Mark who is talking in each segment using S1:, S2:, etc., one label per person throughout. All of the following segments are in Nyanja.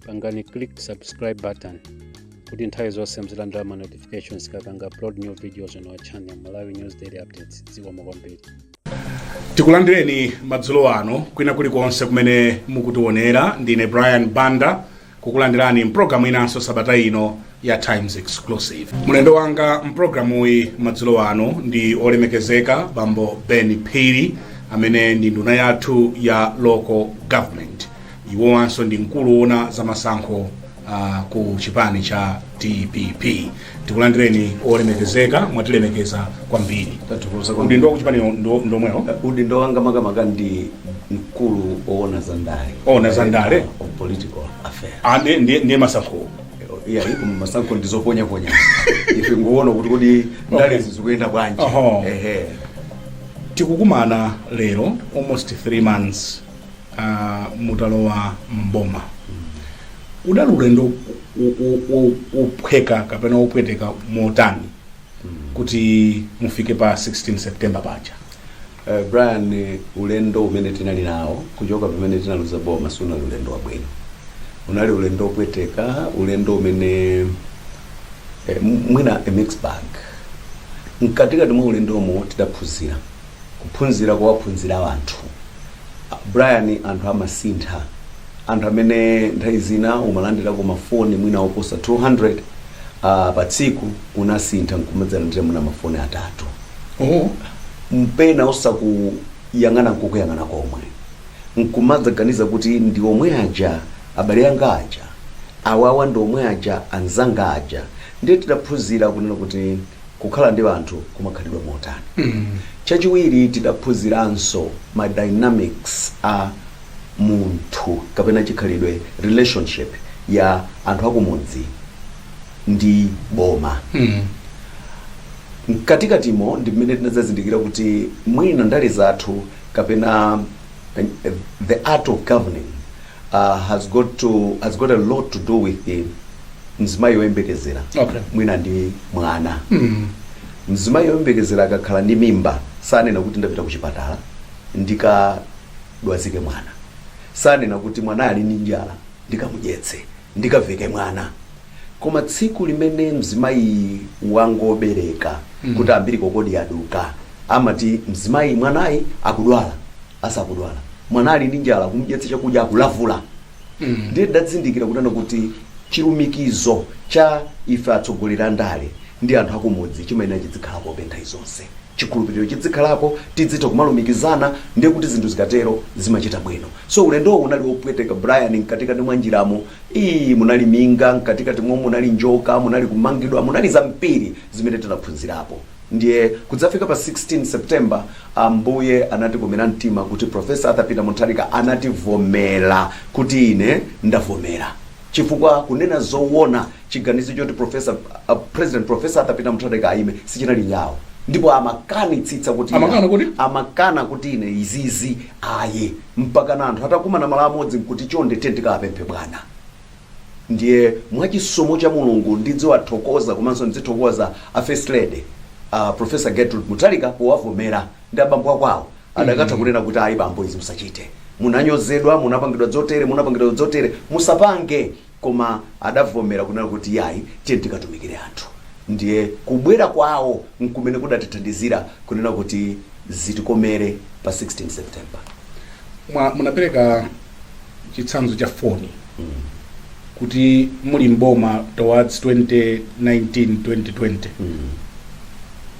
S1: pangani click subscribe button kuti nthawi zonse muzilandira ma notifications tikapanga upload new videos on our channel malawi news daily updates zikomo kwambiri
S2: tikulandireni madzulo ano kwina kulikonse kumene mukutionera ndine brian banda kukulandirani mpulogalamu inanso sabata ino ya Times Exclusive. Mlendo wanga mprogramuyi madzulo ano ndi olemekezeka bambo Ben Phiri amene ndi nduna yathu ya local government. Iwowanso ndi mkulu woona za masankho uh, ku chipani cha DPP. Tikulandireni olemekezeka mwatilemekeza kwambiri. Tathokoza kwambiri. Udindo wa kuchipani ndo- ndomwewo. udindo wanga makamaka
S3: ndi mkulu owona za ndale Owona za ndale?
S2: Of political
S3: affairs Ande ndiye ndiye masankho.
S2: iya
S3: iko masankho ndizoponya ponya ife ngowona kuti kodi ndale zizikuyenda bwanji Oho. ehe
S2: tikukumana lero almost 3 months uh, mutalowa mboma udali ulendo u- u- u- wophweka kapena wopweteka motani kuti mufike pa 16 september paja Brian,
S3: ulendo umene tinali nawo kuchoka pamene tinaluza boma sunali ulendo wabwino. Unali ulendo wopweteka, ulendo umene eh, mwina a mixed bag. Mkatikati mwa ulendomo tidaphunzira kuphunzira kuwaphunzira anthu. Brian, anthu amasintha, anthu amene nthawi zina umalandirako mafoni mwina oposa 200 uh, ah, pa tsiku unasintha nkumadzalandira mwina mafoni atatu mpena osakuyang'ana nkukuyang'ana komwe nkumadzaganiza kuti ndi omwe aja abale anga aja awawa ndi omwe aja anzanga aja ndiye tidaphunzira kunena kuti kukhala ndi anthu kumakhalidwa motani chachiwiri tidaphunziranso ma dynamics a munthu kapena chikhalidwe relationship ya anthu akumudzi ndi boma Mm. mkatikatimo ndi mmene tinadzazindikira kuti mwina ndale zathu kapena eh, the art of governing uh, has got to has got a lot to do with the mzimayi woyembekezera Okay. mwina ndi mwana Mm. mzimayi woyembekezera akakhala ndi mimba sanena kuti ndapita kuchipatala ndikadwazike mwana sanena kuti mwana ali ndi njala ndikamudyetse ndikaveke mwana koma tsiku limene mzimayi wangobereka kuti ambiri kokodi aduka amati mzimayi mwanayi akudwala asakudwala mwana ali ndi njala kumdyetsa chakudya akulavula ndiye tidazindikira kunena kuti chilumikizo cha ife atsogoleri andale ndi anthu akumudzi chimayenera chidzikhalapobe nthawi zonse chikhulupiliro chidzikhalapo tidzitha kumalumikizana ndiye kuti zinthu zikatero zimachita bwino so ulendowo unali wopweteka Brian mkatikati mwa njiramo ii munali minga mkatikati mo munali njoka munali kumangidwa munali zambiri zimene tinaphunzirapo ndiye kudzafika pa 16 September Ambuye anatikomera mtima kuti Prof. Arthur Peter Mutharika anativomera kuti ine ndavomera chifukwa kunena zowona Chiganizo choti professor, a president professor Arthur Peter Mutharika ayime sichinali chawo ndipo amakanitsitsa kuti Amakana kuti? amakana kuti ine izizi ayi mpakana anthu atakumana malo amodzi nkuti chonde tiye tikawapemphe bwana ndiye mwachisomo cha mulungu ndidziwathokoza komanso ndidzithokoza a first lady a professor gertrude mutharika powavomera ndi abambo akwawo adakatha kunena kuti ayi bambo izi musachite munanyozedwa munapangidwa dzotere munapangidwa dzotere musapange Koma adavomera kunena kuti, Iyai, tiyeni tikatumikire anthu. Ndiye kubwera kwawo nkumene kudatithandizira kunena kuti zitikomere pa 16 September.
S2: Munapereka chitsanzo cha foni kuti muli m'boma towards 2019 2020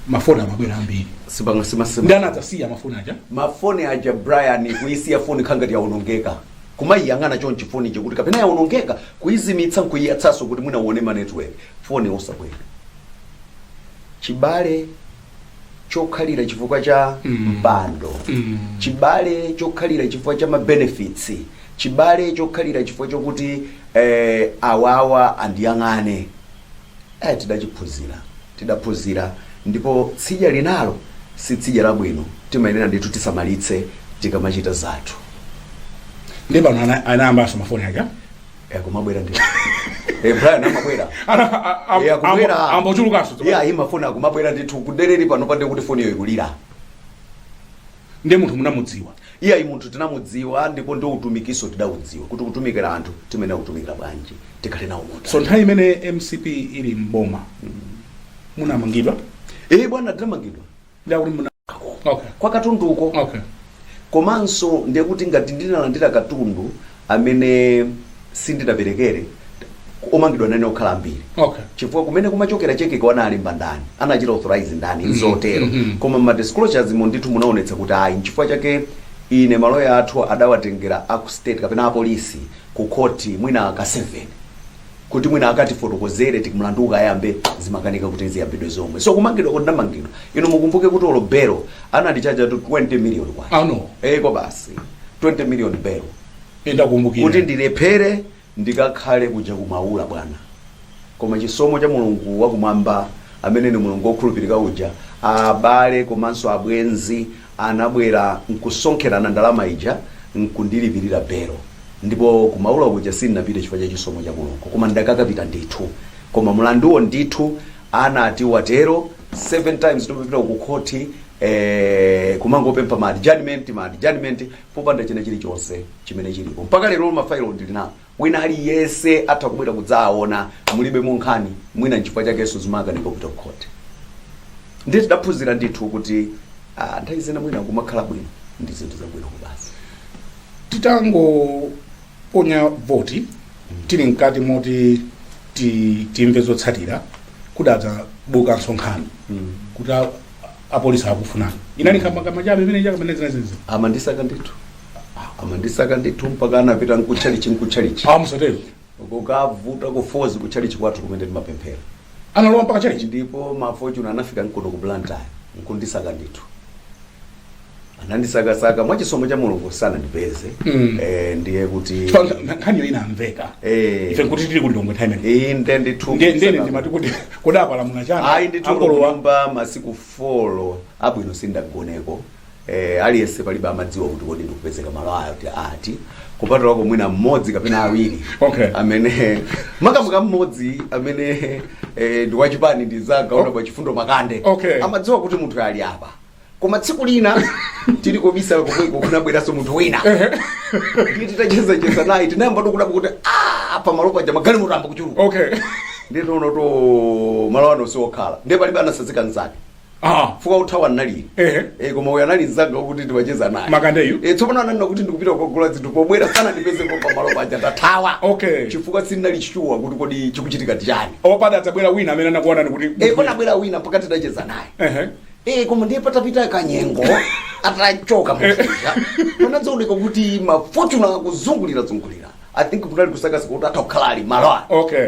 S2: mafoni amabwera ambiri Sipanga simasema. ndiye anadzasiya mafoni aja Mafoni aja
S3: Brian kuisiya foni khangati yaonongeka. kumayiyang'ana chonchi foni ija kuti kapena yawonongeka kuyizimitsa nkuyiyatsanso kuti mwina uone ma network foni osabwera chibale chokhalira chifukwa cha mpando chibale chokhalira chifukwa cha mabenefits chibale chokhalira chifukwa chokuti eh, awawa andiyang'ane Eh, tidachiphunzira, tidaphunzira ndipo tsidya linalo si tsidya labwino, timayenera ndithu tisamalitse tikamachita zathu.
S2: ndi pano ana- anayambanso mafoni aja Eh, kumabwera
S3: ndi Eh, Brian amabwera Ana- a- a- Eh,
S2: akubwera. ambo- ambochulukanso Iye ayi mafoni akumabwera
S3: ndithu kudelera pano pande
S2: kuti
S3: foniyo ikulira Ndiye
S2: munthu
S3: munamudziwa? Iyayi, munthu tinamudziwa ndipo ndi utumikinso tidaudziwa kuti kutumikira anthu timayenera kutumikira bwanji, tikhale nawo munthu. So nthawi imene mcp
S2: ili m'boma munamangidwa? Ee
S3: bwana, tinamangidwa. Ndiye kuti
S2: muna Okay. kwa katunduko
S3: Okay.
S2: komanso
S3: ndekuti ngati ndinalandira katundu amene sindinaperekere omangidwa nane akhala ambiri Okay. chifukwa kumene
S2: kumachokera
S3: chekeko analemba ndani anachita authorize ndani nzotero mhm. koma ma disclosures mo ndithu munaonetsa kuti ayi nchifukwa chake ine maloya athu adawatengera aku state kapena apolisi ku khoti mwina ka 7 kuti mwina akatifotokozere ti mlandu ukayambe zimakanika kuti ziyambidwe zomwe so kumangidwa kuti ndamangidwa inu mukumbuke kuti olo belo anandichaja to 20 million kwacha Ano. eh kwa basi 20 million belo kuti ndakumbukira
S2: ndilephere
S3: ndikakhale kuja kumaula bwana koma chisomo cha mulungu wakumwamba amene ni mulungu wokhulupirika uja abale komanso abwenzi anabwera nkusonkherana ndalama ija nkundilipirira belo ndipo ku maula kuja sindinapite chifukwa cha chisomo cha Mulungu koma ndakakapita ndithu koma mlanduwo ndithu anati watero 7 times tikupita ku khoti eh, kumangopempha ma adjournment ma adjournment popanda china chilichonse chimene chilipo mpaka lero mafailo ndili nawo Wina aliyese atha kubwera kudzaawona mulibemo nkhani mwina nchifukwa chakeso zimakanika kupita ku court ndiye tidaphunzira ndithu kuti ah, nthawi zina mwina kumakhala bwino ndi zinthu zabwino kubasi
S2: titangoponya voti tili mkati moti ti- timve zotsatira kudadzabukanso nkhani kuti a- apolisi akufunani inali nkhambakamwa chabe imene chakamanezinazizi amandisaka ndithu amandisaka ndithu mpaka anapita nkutchalichi kutchalichi ah
S3: musatero kukavuta kufozi kutchalichi kwathu kumene timapemphera analowa mpaka
S2: mtchalichi ndipo ma
S3: fortuner anafika nkuno ku blantyre nkundisaka ndithu anandisakasaka mwa chisomo cha mulungu sanandipeze Mm. eh, ndiye kuti
S2: nkhaniyo inamveka Eh. ife nkuti tili kulilongwe nthawi imene iyi nde ndithu Nde- nde
S3: ine ndimati kuti
S2: kodi ndapalamula chani ayi ndithu Akolowa. kulomba
S3: masiku folo abwino sindagoneko eh, aliyense palibe amadziwa kuti kodi ndikupezeka malo ati ati kupatulako mwina mmodzi kapena awiri Okay. amene makamaka mmodzi amene eh, ndi wachipani ndi nzanga honourable chifundo makande Okay. amadziwa kuti
S2: munthu ali
S3: apa koma tsiku lina tili kobisala komweko kunabweranso munthu wina ndiye titachezacheza naye tinayamba tikudabwa kuti "Ah, pamalo paja magalimoto ayamba kuchuluka okay ndiye
S2: tinaona kuti
S3: malo ano siokhala ndiye palibe anasazika nzake Ah. chifukwa kuthawa nali Eh. eh koma uyo anali nzanga kuti timacheza naye Makandeyu? eh tsopano
S2: ananena kuti
S3: ndikupita kukagula zinthu pobwera sanandipezepo pamalo paja tathawa Okay. chifukwa
S2: sitinali
S3: sure kuti kodi chikuchitika ndi chani padadzabwera wina
S2: amene ndakuuzani kuti eh kunabwera wina mpaka
S3: titacheza naye Ehe. Eh, koma ndiye patapita kanyengo atachoka muja panadzaoneka kuti ma fortuner akuzungulira zungulira i think kunali kusakasaka kuti atha kukhala ali malo ake okay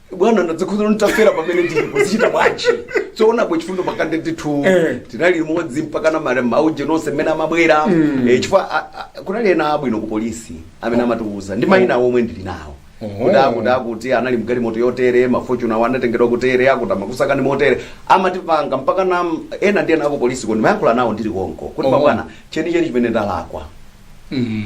S2: bwana
S3: ndadzikhuza nditafera pamene ndilipo zichita bwanji so honourable chifundo makande ndithu Eh. tinali limodzi mpakana mare mauje nonse mmene amabwera Eh, chifukwa a- a- kunali ena abwino ku polisi amene amatiuza ndi mayina omwe ndili nawo Oho. kuti akuti akuti anali mgalimoto yotere ma fortuner awo anatengedwa kutere akuti amakusakani motere amatipanga mpakana ena ndi ena akupolisiko ndimayankhula nawo ndili konko kuti Oho. mabwana chenicheni chimene ndalakwa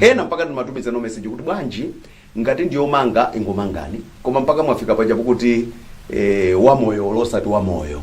S3: ena mpaka ndimatumizana message kuti bwanji Ngati ndiyomanga ingomangani koma mpaka mwafika paja kuti ee wamoyo olo osati wamoyo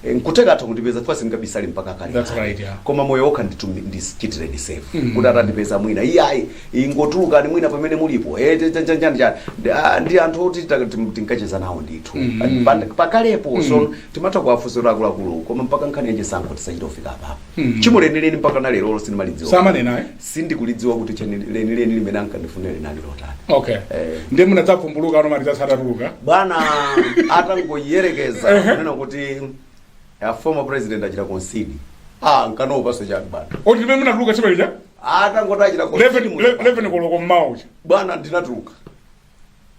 S3: e, nkutheka atha kundipeza chifukwa sindingabisale mpaka kale That's kale. right, yeah. koma moyo
S2: wokha ndithu ndi-
S3: ndichitireni safe Mm. kuti atandipeza mwina iyayi ingotulukani mwina pamene mulipo e, cha- cha- cha- cha- cha. Ndi- ah, ndi anthu oti ta- tim- tinkacheza nawo ndithu Mm. Pa- pakalepo so timatha kuwafunsira akuluakulu koma mpaka nkhani yachisankho tisachite kufika apapo Hmm. Tchimo lenileni mpaka na lero sinimalidziwa. Samanena
S2: eh? Sindikulidziwa
S3: kuti tchimo lenileni limene ankandifunira linali lotani. Okay. Eh.
S2: Ndiye munadzavumbuluka ano ma results atatuluka. Bwana
S3: atangoyerekeza kunena kuti a former president achita concede. Ah, nkanaopanso chani bwana. That's time imene munatuluka
S2: imene ija? Atangoti achita
S3: concede. 11 11 koloko mmawa
S2: uja. Bwana ndinatuluka.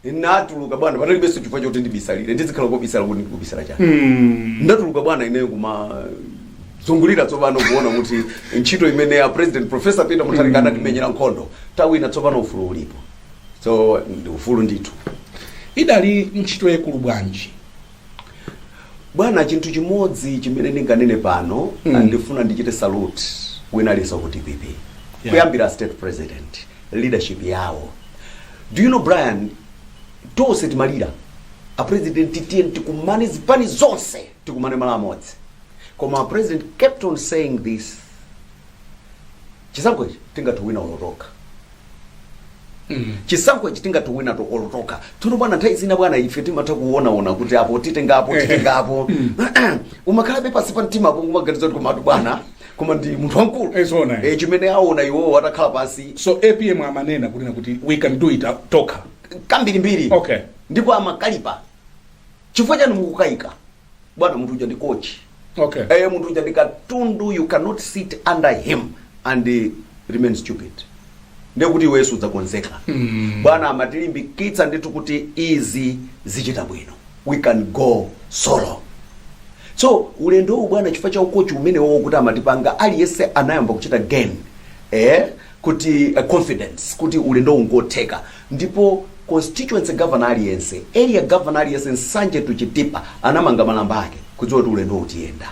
S3: ndinatuluka bwana panalibenso chifukwa choti ndibisalire ndizikhala kobisala kuti ndikubisala chani Mm. ndatuluka bwana ineyo kumazungulira tsopano kuona kuti ntchito imene a president professor peter mutharika anatimenyera nkhondo tawina tsopano ufulu ulipo so ni ufulu ndithu idali
S2: ntchito yaikulu
S3: bwanji Bwana, chinthu chimodzi chimene ndinganene pano mm. ndifuna ndichite salute wina aliyense ku dpp yeah. kuyambira a state president leadership yawo do you know brian tonse timalira apresidenti tiyeni tikumane zipani zonse tikumane malo amodzi koma a president kept on saying this chisankho ichi tingathe kuwina olo tokha chisankho ichi tingathe kuwina to olo tokha tsono bwana nthawi zina bwana ife timatha kuonaona kuti apo titengapo titengapo umakhalabe pansi pa mtima apo kumaganiza kuti komatu bwana koma ndi munthu wamkulu Eh, zoona, eh. Eh, chimene aona iwowo atakhala pansi so apm
S2: amanena kunena kuti we can do it uh, tokha kambirimbiri
S3: Okay. ndipo
S2: amakalipa
S3: chifukwa chani mukukayika bwana munthu uja ndi coach okay eh
S2: munthu uja
S3: ndi katundu you cannot sit under him and eh, remain stupid nde kuti iwe wenso udzakonzeka bwana amatilimbikitsa ndithu kuti izi zichita bwino we can go solo so ulendo uwu bwana chifukwa cha ukochi umenewo wowo kuti amatipanga aliyense anayamba kuchita gain eh, kuti uh, confidence kuti ulendowu ngotheka Ndipo constituency governor aliyense, area governor aliyense Nsanje to Chitipa anamanga malamba ake kudziwa kuti ulendowu tiyenda.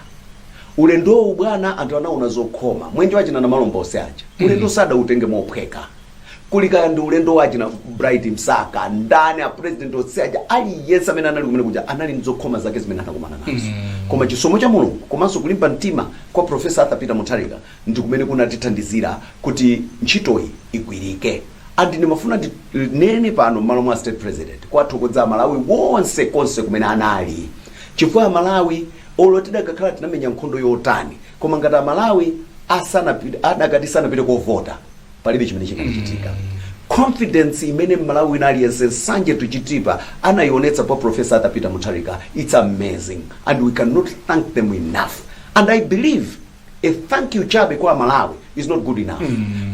S3: Ulendo uwu bwana anthu anaona zokhoma. Mwendo wa achina Namalomba onse aja. Ulendowu sadautenge mophweka. Kuli kaya ndi ulendo wa achina Bright Msaka, ndani a president onse aja aliyense amene anali kumene kuja anali ndi zokhoma zake zimene anakumana nazo. Koma chisomo cha Mulungu komanso kulimba mtima kwa Professor Arthur Peter Mutharika ndi kumene kunatithandizira kuti ntchitoyi igwirike and ndimafuna ndi nene pano mmalo mwa state president kuwathokodza amalawi wonse konse kumene anali chifukwa amalawi olo tidakakhala tinamenya nkhondo yotani koma ngati amalawi adakati sanapite kovota palibe chimene chikanachitika confidence imene mmalawi wina aliyense nsanje tuchitipa anayionetsa kwa profesa arthur peter mutharika its amazing and we cannot thank them enough and i believe a thank you chabe kwa amalawi is not good enough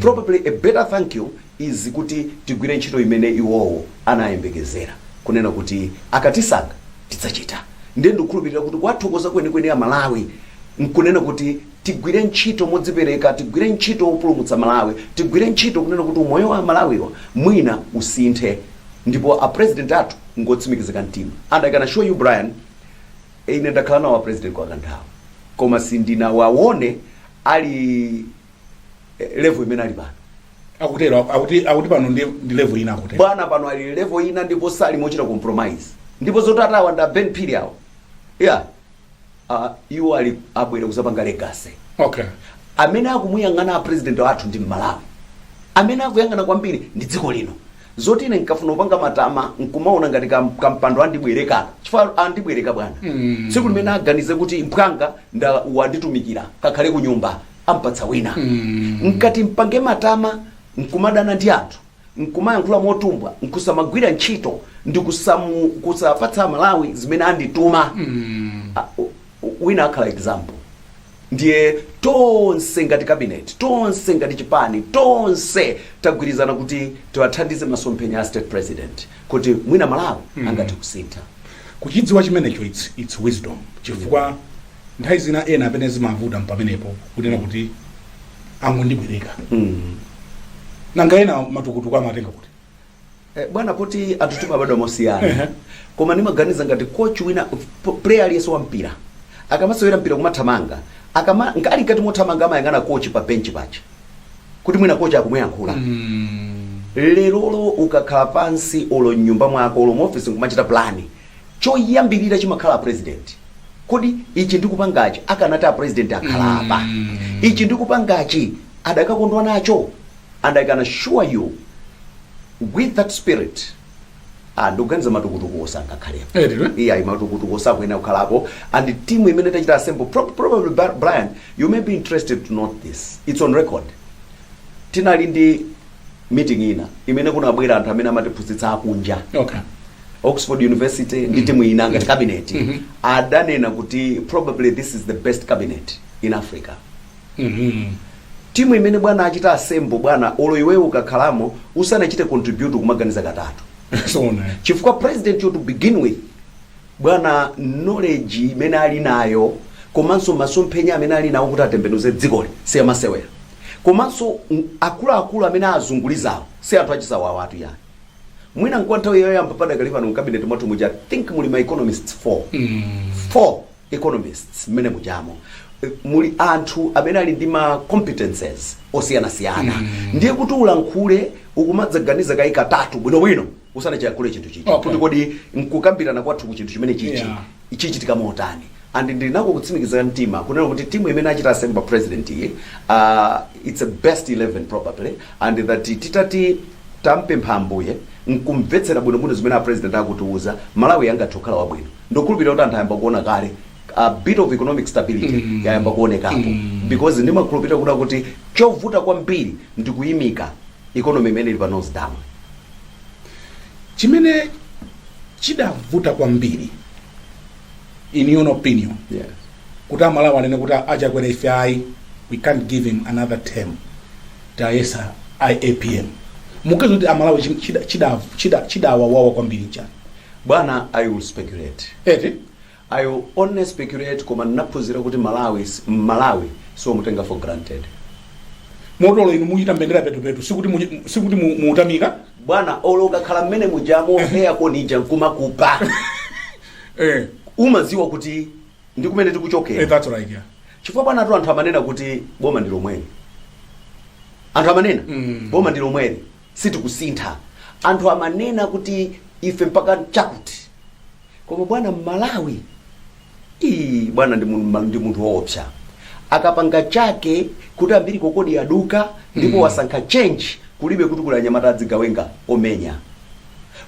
S3: probably a better thank you is kuti tigwire ntchito imene iwowo anayembekezera kunena kuti akatisankha tidzachita ndiye ndikukhulupirira kuti kuwathokoza kwenikweni amalawi nkunena kuti tigwire ntchito modzipereka tigwire ntchito wopulumutsa malawi tigwire ntchito kunena kuti umoyo wa amalawiwa mwina usinthe ndipo a president athu ngotsimikizika mtima and i can assure you brian Ine ndakhala nawo a president kwa kanthawi koma sindinawawone ali level imene ali pano. akutero
S2: akuti pano ndi level ina akutero Bwana pano ali level
S3: ina ndipo sali mochita compromise. Ndipo zoti atawa nda Ben Phiri awo. Yeah. Uh, iwo ali abwera kuzapanga legacy. okay
S2: amene
S3: akumuyang'ana a president athu ndi mmalawi amene akuyang'ana kwambiri ndi dziko lino zoti ine nkafuna kupanga matama nkumaona ngati kam- kampando andibwereka chifukwa andibwereka bwana Mm. tsiku limene aganize kuti mphwanga nda wanditumikira kakhale ku nyumba ampatsa wina Mm. nkati mpange matama nkumadana ndi anthu nkumayankhula motumbwa nkusamagwira ntchito ndi kusamu- kusapatsa amalawi zimene andituma Mm. Ah, oh, wina akhala example ndiye tonse ngati cabinet tonse ngati chipani tonse tagwirizana kuti tiwathandize masomphenya a state president kuti mwina malawi angathe kusintha kuchidziwa
S2: chimenecho it's, it's wisdom chifukwa nthawi zina ena amene zimavuta mpamenepo kunena kuti angondibwereka nanga ena matukutuku amatenga kuti Eh,
S3: bwana poti anthu timabadwa mosiyana Ehe. koma ndimaganiza ngati coach wina p- player aliyense wa mpira akamasewera mpira kumathamanga akama nga- ali mkati mothamanga amayang'ana coach pa bench pache kuti mwina coach akumuyankhula Mm. lero olo ukakhala pansi olo mnyumba mwako olo muofisi nkumachita plani choyambirira chimakhala a president kodi ichi ndikupangachi akanati a president akhala apa Mm. ichi ndikupangachi adakakondwa nacho and i can assure you with that spirit ah, ndikuganiza matukutukuwo sangakhalepo Eh, ndilo. iyayi matukutukuwo sakuyenera kukhalapo and timu imene tachita assemble pro- probably Bri- brian you may be interested to note this it's on record tinali ndi meeting ina imene kunabwera anthu amene amatiphunzitsa akunja okay
S2: oxford
S3: university ndi timu ina ngati cabinet adanena kuti probably this is the best cabinet in africa Uhmm team imene bwana achita assemble bwana olo iweyo ukakhalamo usanachite contribute ukumaganiza katatu Zoona. chifukwa president yo to begin with bwana knowledge imene alinayo komanso masomphenya amene alinawo kuti atembenuze dzikoli siyamasewera komanso akuluakulu amene azungulizawo si anthu achisawawatu yayi mwina nkwa nthawi yoyamba padakali pano mkabineti mwathu muja I think muli ma economists 4 Uhmm. 4. economists mmene mujamo eh, muli anthu amene ali ndi ma competences osiyanasiyana ndiye kuti ulankhule ukumadzaganiza kaye katatu bwinobwino usanachiyankhule chinthu chichi Okay. kuti kodi nkukambirana kwathu ku chinthu chimene chichi Yeah. chichitika motani and ndinako kutsimikizira mtima kunena kuti timu imene achita assemble a president iyi uh, its a best 11 probably and that titati tampempha ambuye nkumvetsera bwinobwino zimene a president akutiuza malawi angathe kukhala wabwino Ndikukhulupilira kuti anthu ayamba kuona kale a bit of economic stability yayamba kuonekapo because ndimakhulupilira kunena kuti chovuta kwambiri ndi kuyimika economy imene ili pa nose dive. chimene
S2: chidavuta kwambiri in your opinion Yeah. kuti amalawi anene kuti a Chakwera ife ayi we can't give him another term tayesa APM mukuganiza kuti amalawi chim- chida- chida- chida- chidawawawa kwambiri nchani Bwana
S3: I will speculate eti I will only speculate koma ndinaphunzira kuti mmalawi mmalawi siomutenga for granted. Moti
S2: olo inu muchita mbendera petupetu sikuti mu, sikuti mu- muutamika Bwana olo
S3: ukakhala mmene mujamo eya konija nkumakupa eh, umaziwa kuti ndi kumene eh, tikuchokera. that's right yeah.
S2: Chifukwa bwanatu anthu
S3: amanena kuti boma ndi lomweli. Anthu amanena Mm. boma ndi lomweli. sitikusintha anthu amanena kuti ife mpaka chakuti koma bwana mmalawi ii bwana ndi mun- ndi munthu woopsa akapanga chake kuti umbilical cord yaduka ndipo wasankha change kulibe kuti kuli anyamata adzigawenga omenya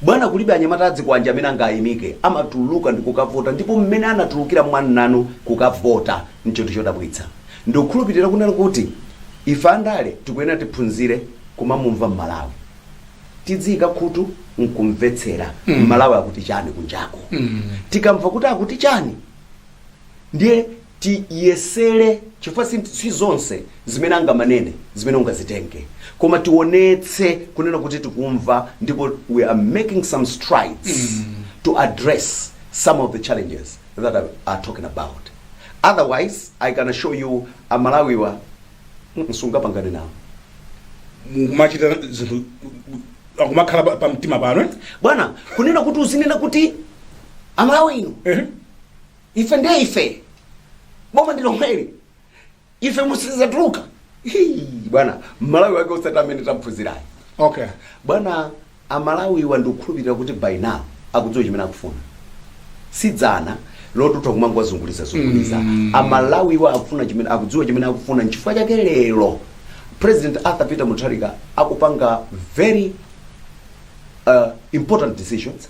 S3: bwana kulibe anyamata adzikwanje amene angayimike amatuluka ndi kukavota ndipo mmene anatulukira mwananu kukavota nchinthu chodabwitsa Ndikukhulupilira kunena kuti ife andale tikuyenera tiphunzire kumamumva m'Malawi. Tidziika khutu nkumvetsera m'Malawi akuti chani kunjako. Tikamva kuti akuti chani ndiye tiyesere chifukwa si, si zonse zimene angamanene zimene ungazitenge koma tionetse kunena kuti tikumva ndipo we are making some strides to address some of the challenges that they are talking about otherwise I can assure you amalawiwa simungapangane nawo
S2: mumachita zinthu akumakhala pa- pa mtima pano eh? bwana
S3: kunena kuti uzinena kuti amalawi inu Ehe. ife ndiye ife boma ndilomweli ife musizatuluka bwana mmalawi wake usati amene taphunzirayi okay bwana amalawiwa ndikukhulupirira kuti by now akudziwa chimene akufuna si dzana loti utha kumangowazunguliza zunguliza mm. amalawiwa akufuna chimene akudziwa chimene akufuna nchifukwa chake lero president arthur peter mutharika akupanga very uh, important decisions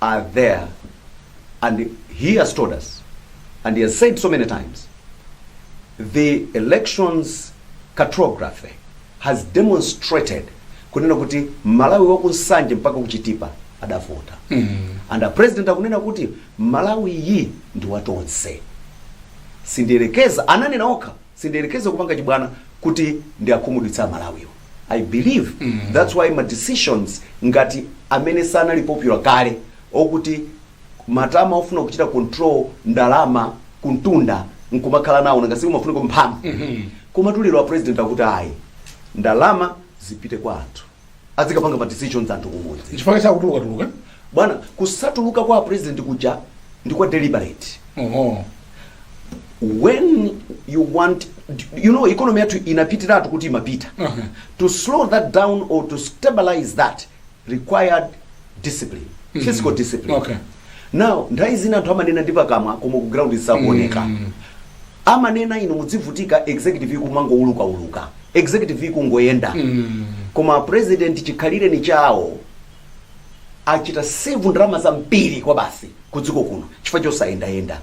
S3: are there and he has told us and he has said so many times the elections cartography has demonstrated kunena kuti malawi wakunsanje mpaka kuchitipa adavota and a president akunena kuti malawi yi ndi watonse sindiyerekeza ananena okha sindiyerekeza kupanga chibwana kuti ndiakhumudwitsa amalawiwa i believe that's why ma decisions ngati amene sanali popular kale okuti matama ofuna kuchita control ndalama kumtunda nkumakhala nawo nanga si umafunako mphamvu koma tu lero a president akuti ayi ndalama zipite kwa anthu azikapanga ma decisions anthu kumudzi chifukwa chakutuluka tuluka Bwana, kusatuluka kwa president kuja ndi kwa deliberate. Oho. When you want you know economy yathu inapitiratu kuti imapita. Uh -huh. To slow that down or to stabilize that required discipline. Mm -hmm. Fiscal discipline. Okay. Now, nthawi zina anthu amanena ndi pakamwa koma ku ground sizikuoneka. Mm -hmm. Amanena inu mudzivutika executive kumangouluka uluka. Executive kungoyenda. Mm -hmm. Koma a president chikhalireni chawo. achita save ndalama zambiri kwabasi ku dziko kuno chifukwa chosayendayenda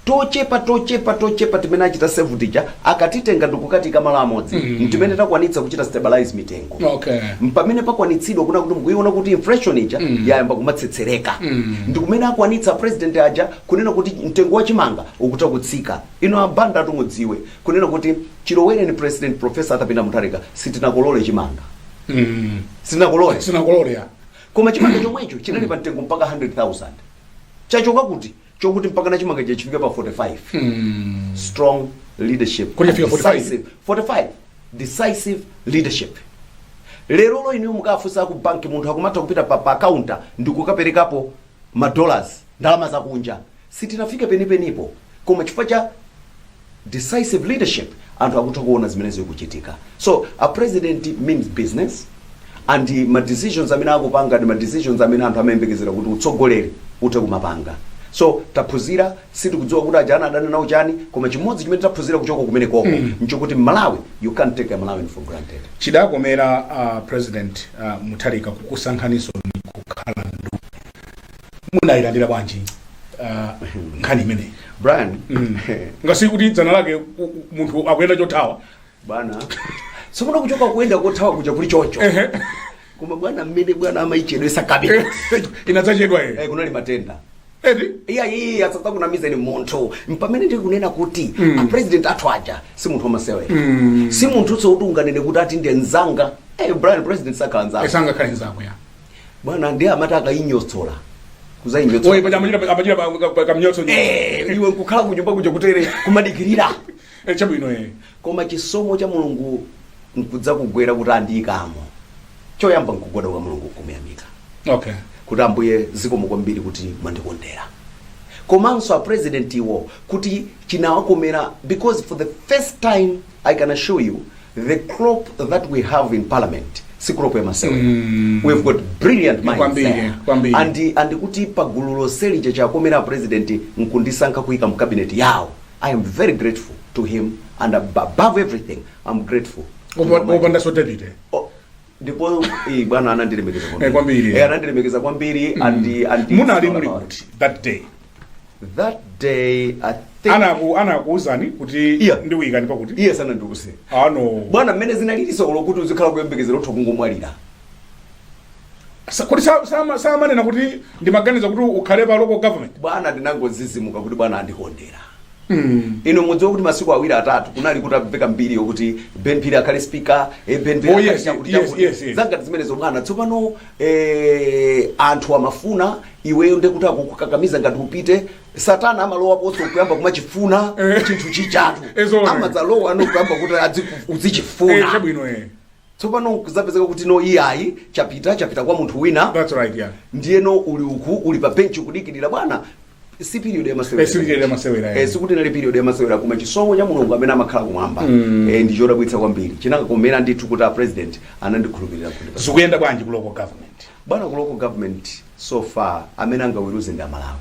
S3: tochepa tochepa tochepa timene achita save tija akatitenga ndikukatiika malo amodzi mm. ntimene takwanitsa kuchita stabilize mitengo Okay. mpamene
S2: pakwanitsidwa
S3: kunena kuti mukuiona kuti inflation ija mm. yayamba kumatsetsereka mm. ndikumene akwanitsa president aja kunena kuti mtengo wa chimanga ukutha kutsika inu a banda tu mudziwe kunena kuti chilowereni president professor arthur peter mutharika sitinakolole chimanga sinakolole sinakolole ya koma chimanga chomwecho chinali pa mtengo mpaka 100000 chachoka kuti chokuti mpakana chimangacho chifike pa 45 strong leadership Kodi yafika 45? Decisive. 45 decisive leadership lerolo inu mukafunsa ku banki munthu akumatha kupita pa, pa kaunta ndikukaperekapo ma dollars, ndalama za kunja, sitinafika penipenipo koma chifukwa cha decisive leadership anthu akutha kuona zimene zikuchitika. So a president means business and ma decisions amene akupanga ndi ma decisions amene anthu amayembekezera kuti utsogoleri uthe kumapanga. So taphunzira sitikudziwa kuti ajawa anadana nawo chani koma chimodzi chimene taphunzira kuchoka kumene koko mm. nchokuti malawi you can't take a malawian for granted chidakomera
S2: uh, president uh, mutharika kukusankhaninso inu kukhala ndu munayilandira bwanji uh, nkhani imeneyi brian mm.
S3: ngasi
S2: kuti dzana lake u- u- munthu akuyenda chothawa
S3: bwana sikuona kuchoka kuyenda kothawa kuja kuli chocho koma bwana mmene bwana amaichedwetsa cabinet inadzachedwa eh,
S2: ere kunali matenda
S3: eti iya
S2: iyi
S3: asazakunamizeni munthu mpamene ndikunena kuti mm. apresident athu aja si munthu wamasewera mm. si munthunso woti unganene kuti ati ndi nzanga hey, brian president sakhala nzanga sangakhale nzako
S2: ya bwana
S3: ndiye amati akayinyotsola kuzayinyotsola
S2: oyi paja amachita amachita kamnyotso Eh, iwe
S3: nkukhala kunyumba kuja kutere kumadikirira Eh, chabwino
S2: eh.
S3: koma chisomo cha mulungu nkudzakugwera kuti andiyikamo choyamba nkugwada kwa mulungu kumuyamika okay
S2: kuti ambuye
S3: zikomo kwambiri kuti mwandikondera komanso a president iwo kuti chinawakomera because for the first time i can assure you the crop that we have in parliament si crop ya masewera Mm. we've got brilliant minds Kwambiri, there. kwambiri. and and kuti pagulu lonseli chachikomera a president nkundisankha kuyika mu cabinet yawo I am very grateful to him and above everything I'm grateful to Opa- Almighty
S2: opandanso david eh? Oh, ndipo
S3: eh, bwana anandilemekeza Eh, kwambiri. Eh, anandilemekeza
S2: kwambiri
S3: and and munali muli kuti
S2: that day that day
S3: i think Anaku-
S2: anakuuzani kuti Yeah. ndikuyikani pakuti iye sanandiuze
S3: no bwana
S2: mmene zinalili
S3: zolo kuti uzikhala kuyembekezera utha kungomwalira
S2: Sa- kodi sa- sama- samanena kuti ndimaganiza kuti ukhale pa local government bwana
S3: ndinangodzidzimuka kuti bwana andikondera inu mudziwa kuti masiku awiri atatu kunali kukumveka mbiri yokuti ben phiri akhale speaker eh, ben Phiri Oh, akhale yes, chakuti yes, chakuti. yes, yes.
S2: zangati zimenezo
S3: bwana tsopano eh, anthu amafuna iweyo nde kuti akukakamiza ngati upite satana amalowa pomwepo kuyamba kumachifuna Eh. chinthu chijatu Ezoona. amadzalowa no kuyamba kuti adziku- Eh, uzichifuna chabwino eh. Tsopano kudzapezeka kuti no iyayi chapita chapita kwa munthu wina. That's right
S2: yeah. Ndiyeno uli
S3: uku uli pa bench kudikirira bwana si period ya masewera. Eh, si period ya masewera, eh. Eh, siinali period ya masewera koma chisomo cha Mulungu amene amakhala kumwamba. Mm. Eh, ndi chodabwitsa kwambiri. Chinakakomera ndithu kuti a president anandikhulupirira kuti. Zikuyenda bwanji ku local
S2: government? Bwana ku local government
S3: so far amene angaweruze ndi amalawi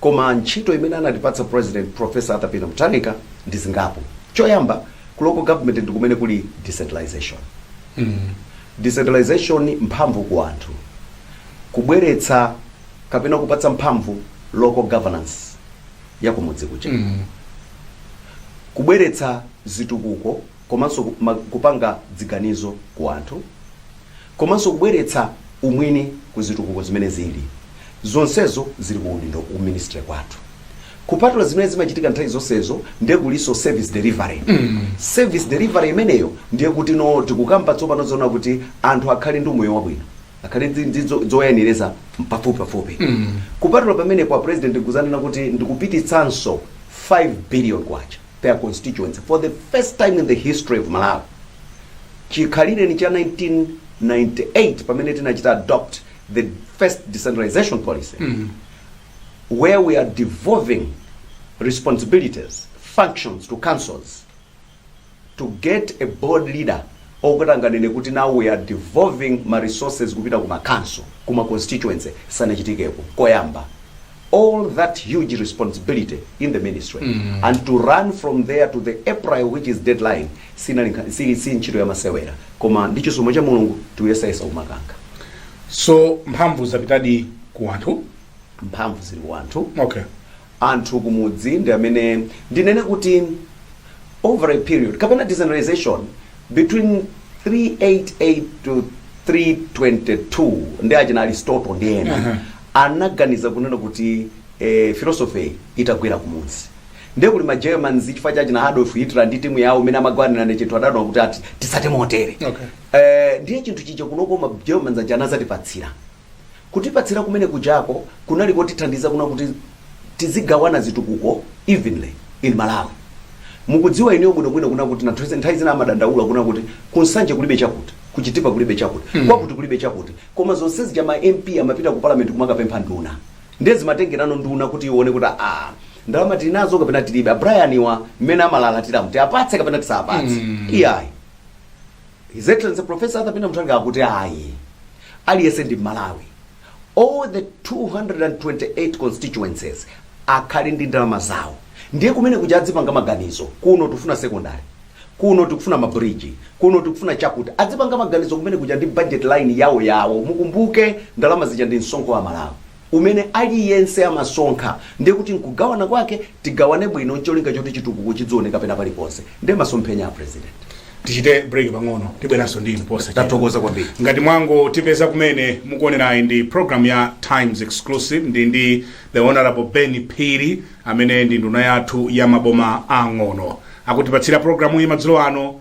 S3: koma ntchito imene anatipatsa president professor Arthur Peter Mutharika ndi zingapo choyamba ku local government ndi kumene kuli decentralization decentralization mphamvu ku anthu kubweretsa kapena kupatsa mphamvu local governance ya kumudzi kuja kubweretsa zitukuko komanso ku ma kupanga dziganizo ku anthu komanso kubweretsa umwini ku zitukuko zimene zili zonsezo zili ku udindo ku ministry kwathu kupatula zimene zimachitika nthawi zonsezo ndiye kulinso service delivery service delivery imeneyo ndiye kuti no tikukamba tsopano zoona kuti anthu akhale ndi umoyo wabwino akhale ndi- ndi zo- zoyenereza pafupi pafupi kupatula pamenepo a president kudzanena kuti ndikupititsanso 5 billion kwacha per constituency for the first time in the history of malawi chikhalireni cha 1998 pamene tinachita adopt the first decentralization policy where we are devolving responsibilities functions to councils to get a bold leader okuti n'anganene kuti now we are devolving ma resources kupita ku makhonsolo kuma constituency sanachitikepo koyamba all that huge responsibility in the ministry and to run from there to the april which is deadline sinali nkha- si, si ntchito yamasewera koma ndi chisomo cha mulungu tikuyesayesa kumakankha
S2: so
S3: mphamvu zapitadi ku anthu mphamvu
S2: zili ku anthu
S3: okay anthu kumudzi ndi amene ndinene kuti over a period kapena decentralization between 388 to 322 ndi achina aristotle ndi ena anaganiza kunena kuti eh, philosophy itagwera kumudzi ndiye kuti ma germans chifukwa cha achina adolf hitler ndi timu yawo imene amagwanira ndi chinthu adaona kuti ati tisate motere Okay. eh, ndiye chinthu chicho kunoko ma germans aja anazatipatsira Kutipatsira kumene kujako kunali kotithandiza kuona kuti tizigawana zitukuko evenly in Malawi. Mukudziwa inuyo bwino bwino kunena kuti anthu nthawi zina amadandaula kunena kuti ku Nsanje kulibe chakuti, ku Chitipa kulibe chakuti, kwakuti kulibe chakuti. Koma zonse zija ma MP amapita ku Parliament kumakapempha nduna. Ndiye zimatengerano nduna kuti ione kuti aah ndalama tili nazo kapena tilibe. A Brian wa mmene amalalatiramu tiwapatse kapena tisawapatse? Iyayi. His Excellency Professor Arthur Peter Mutharika akuti ayi aliyense ndi Mmalawi all the 228 constituencies akhale ndi ndalama zawo ndiye kumene kuja adzipanga maganizo kuno tikufuna secondary kuno tikufuna mabridge kuno tikufuna chakuti adzipanga maganizo kumene kuja ndi budget line yawo yawo mukumbuke ndalama zija ndi msonkho wa aMalawi umene aliyense amasonkha ndiye kuti nkugawana kwake tigawane bwino ncholinga choti chitukuko chidzioneka pena paliponse ndiye masomphenya a president tichite break
S2: pang'ono tibweranso ndi inu posa tathokoza kwambiri ngati
S3: mwangotipeza
S2: kumene mukuonerayi ndi program ya times exclusive ndi ndi the honorable ben phiri amene ndi nduna yathu ya maboma ang'ono akutipatsira programu iyi madzulo ano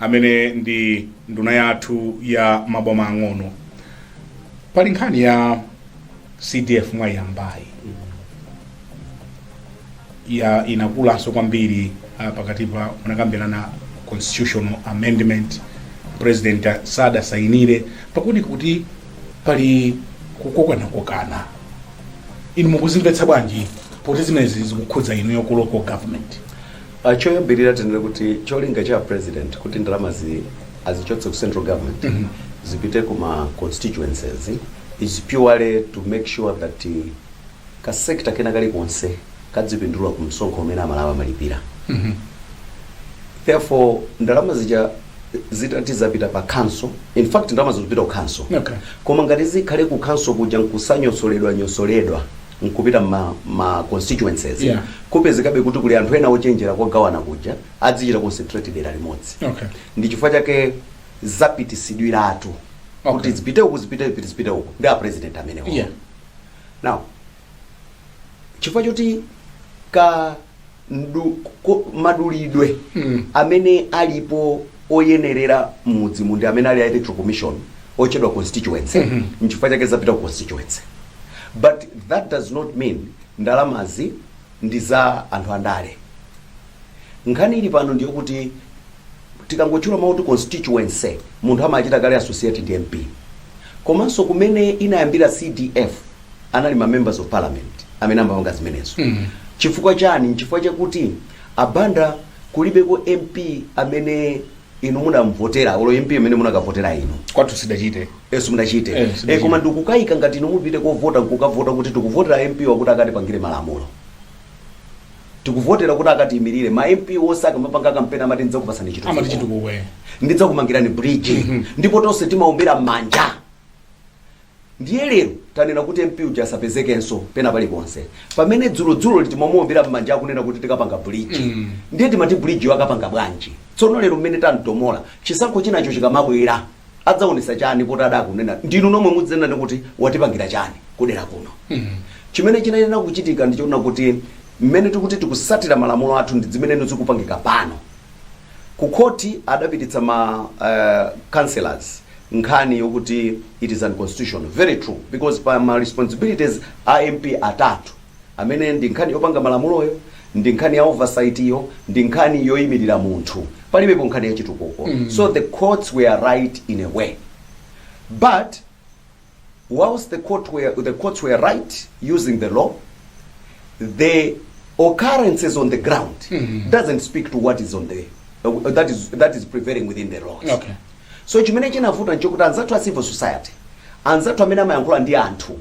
S2: amene ndi nduna yathu ya maboma ang'ono pali nkhani ya cdf mwayiyambayi ya inakulanso kwambiri uh, pakati pa munakambirana constitutional amendment president sadasayinire pakuoneka kuti pali kukokanakokana inu mukuzimvetsa bwanji poti zimenezi zikukhudza inu yoku local government Uh,
S3: choyambirira tinene kuti cholinga cha president kuti ndalamazi azichotse ku central government mm -hmm. zipite ku ma constituencies is purely to make sure that uh, ka sector kena kali konse kadzipindula ku msonkho umene amalawi amalipira mm -hmm. therefore ndalama zija zitati zapita pa council in fact ndalama zikupita ku council okay. koma ngati zikhale ku council kuja nkusanyosoledwa nyosoledwa nkupita mma ma constituencies Yeah. kupezekabe kuti kuli anthu ena ochenjera kogawana kuja adzichita concentrate dera limodzi Okay. ndi chifukwa chake zapitisidwiratu Okay. kuti zipite uku zipite uku zipite uku ndi a president amenewo Yeah. now chifukwa choti ka mdu, ko, madulidwe mm. amene alipo oyenerera mmudzimu ndi amene ali a electoral commission otchedwa constituency mm -hmm. nchifukwa chake zapita ku constituency but that does not mean ndalamazi ndi za anthu andale nkhani ili pano ndi yakuti tikangotchula mawu kuti constituency munthu amachita kale associate ndi mp komanso kumene inayambira cdf anali ma members of parliament amene amapanga zimenezo mm. chifukwa chani nchifukwa chakuti a Banda kulibeko mp amene inu munamvotera olo mp amene munakavotera inu kwathu sidachite
S2: ife simudachite Eh, e,
S3: sidachite. koma ndikukayika ngati inu mupite kovota nkukavota kuti tikuvotera mp wakuti akatipangire malamulo tikuvotera kuti akatiyimirire ma mp onse akamapanga kampeni amati ndidzakupasani amati chitukuko chitukuko eh. ndidzakumangirani bridge ndipo tonse timaombera mmanja Ndiye lero tanena kuti MP uja asapezekenso pena paliponse pamene dzulodzuloli timamuombera m'manja akunena kuti tikapanga bridge. Ndiye timati bridge yo akapanga bwanji? Tsono lero mmene tamtomola, chisankho chinacho chikamabwera adzaonetsa chani poti adzakunena ndinu nomwe mudzenane kuti watipangira chani kudera kuno? Chimene chinayenera kuchitika ndi chonena kuti mmene tikuti tikutsatira malamulo athu ndi zimeneno zikupangika pano. Ku khoti adapititsa ma eh, councillors nkhani yokuti it is unconstitutional very true because pa ma responsibilities a mp atatu amene ndi nkhani yopanga malamuloyo ndi nkhani ya oversight yo ndi nkhani yoyimirira munthu palibepo nkhani ya chitukuko mm. so the courts were right in a way but whilst the, court were, the courts were right using the law the occurrences on the ground mm. doesn't speak to what is on the uh, that is that is prevailing within the laws okay So chimene chinavuta nchokuti anzathu a civil society, anzathu amene amayankhula ndi anthu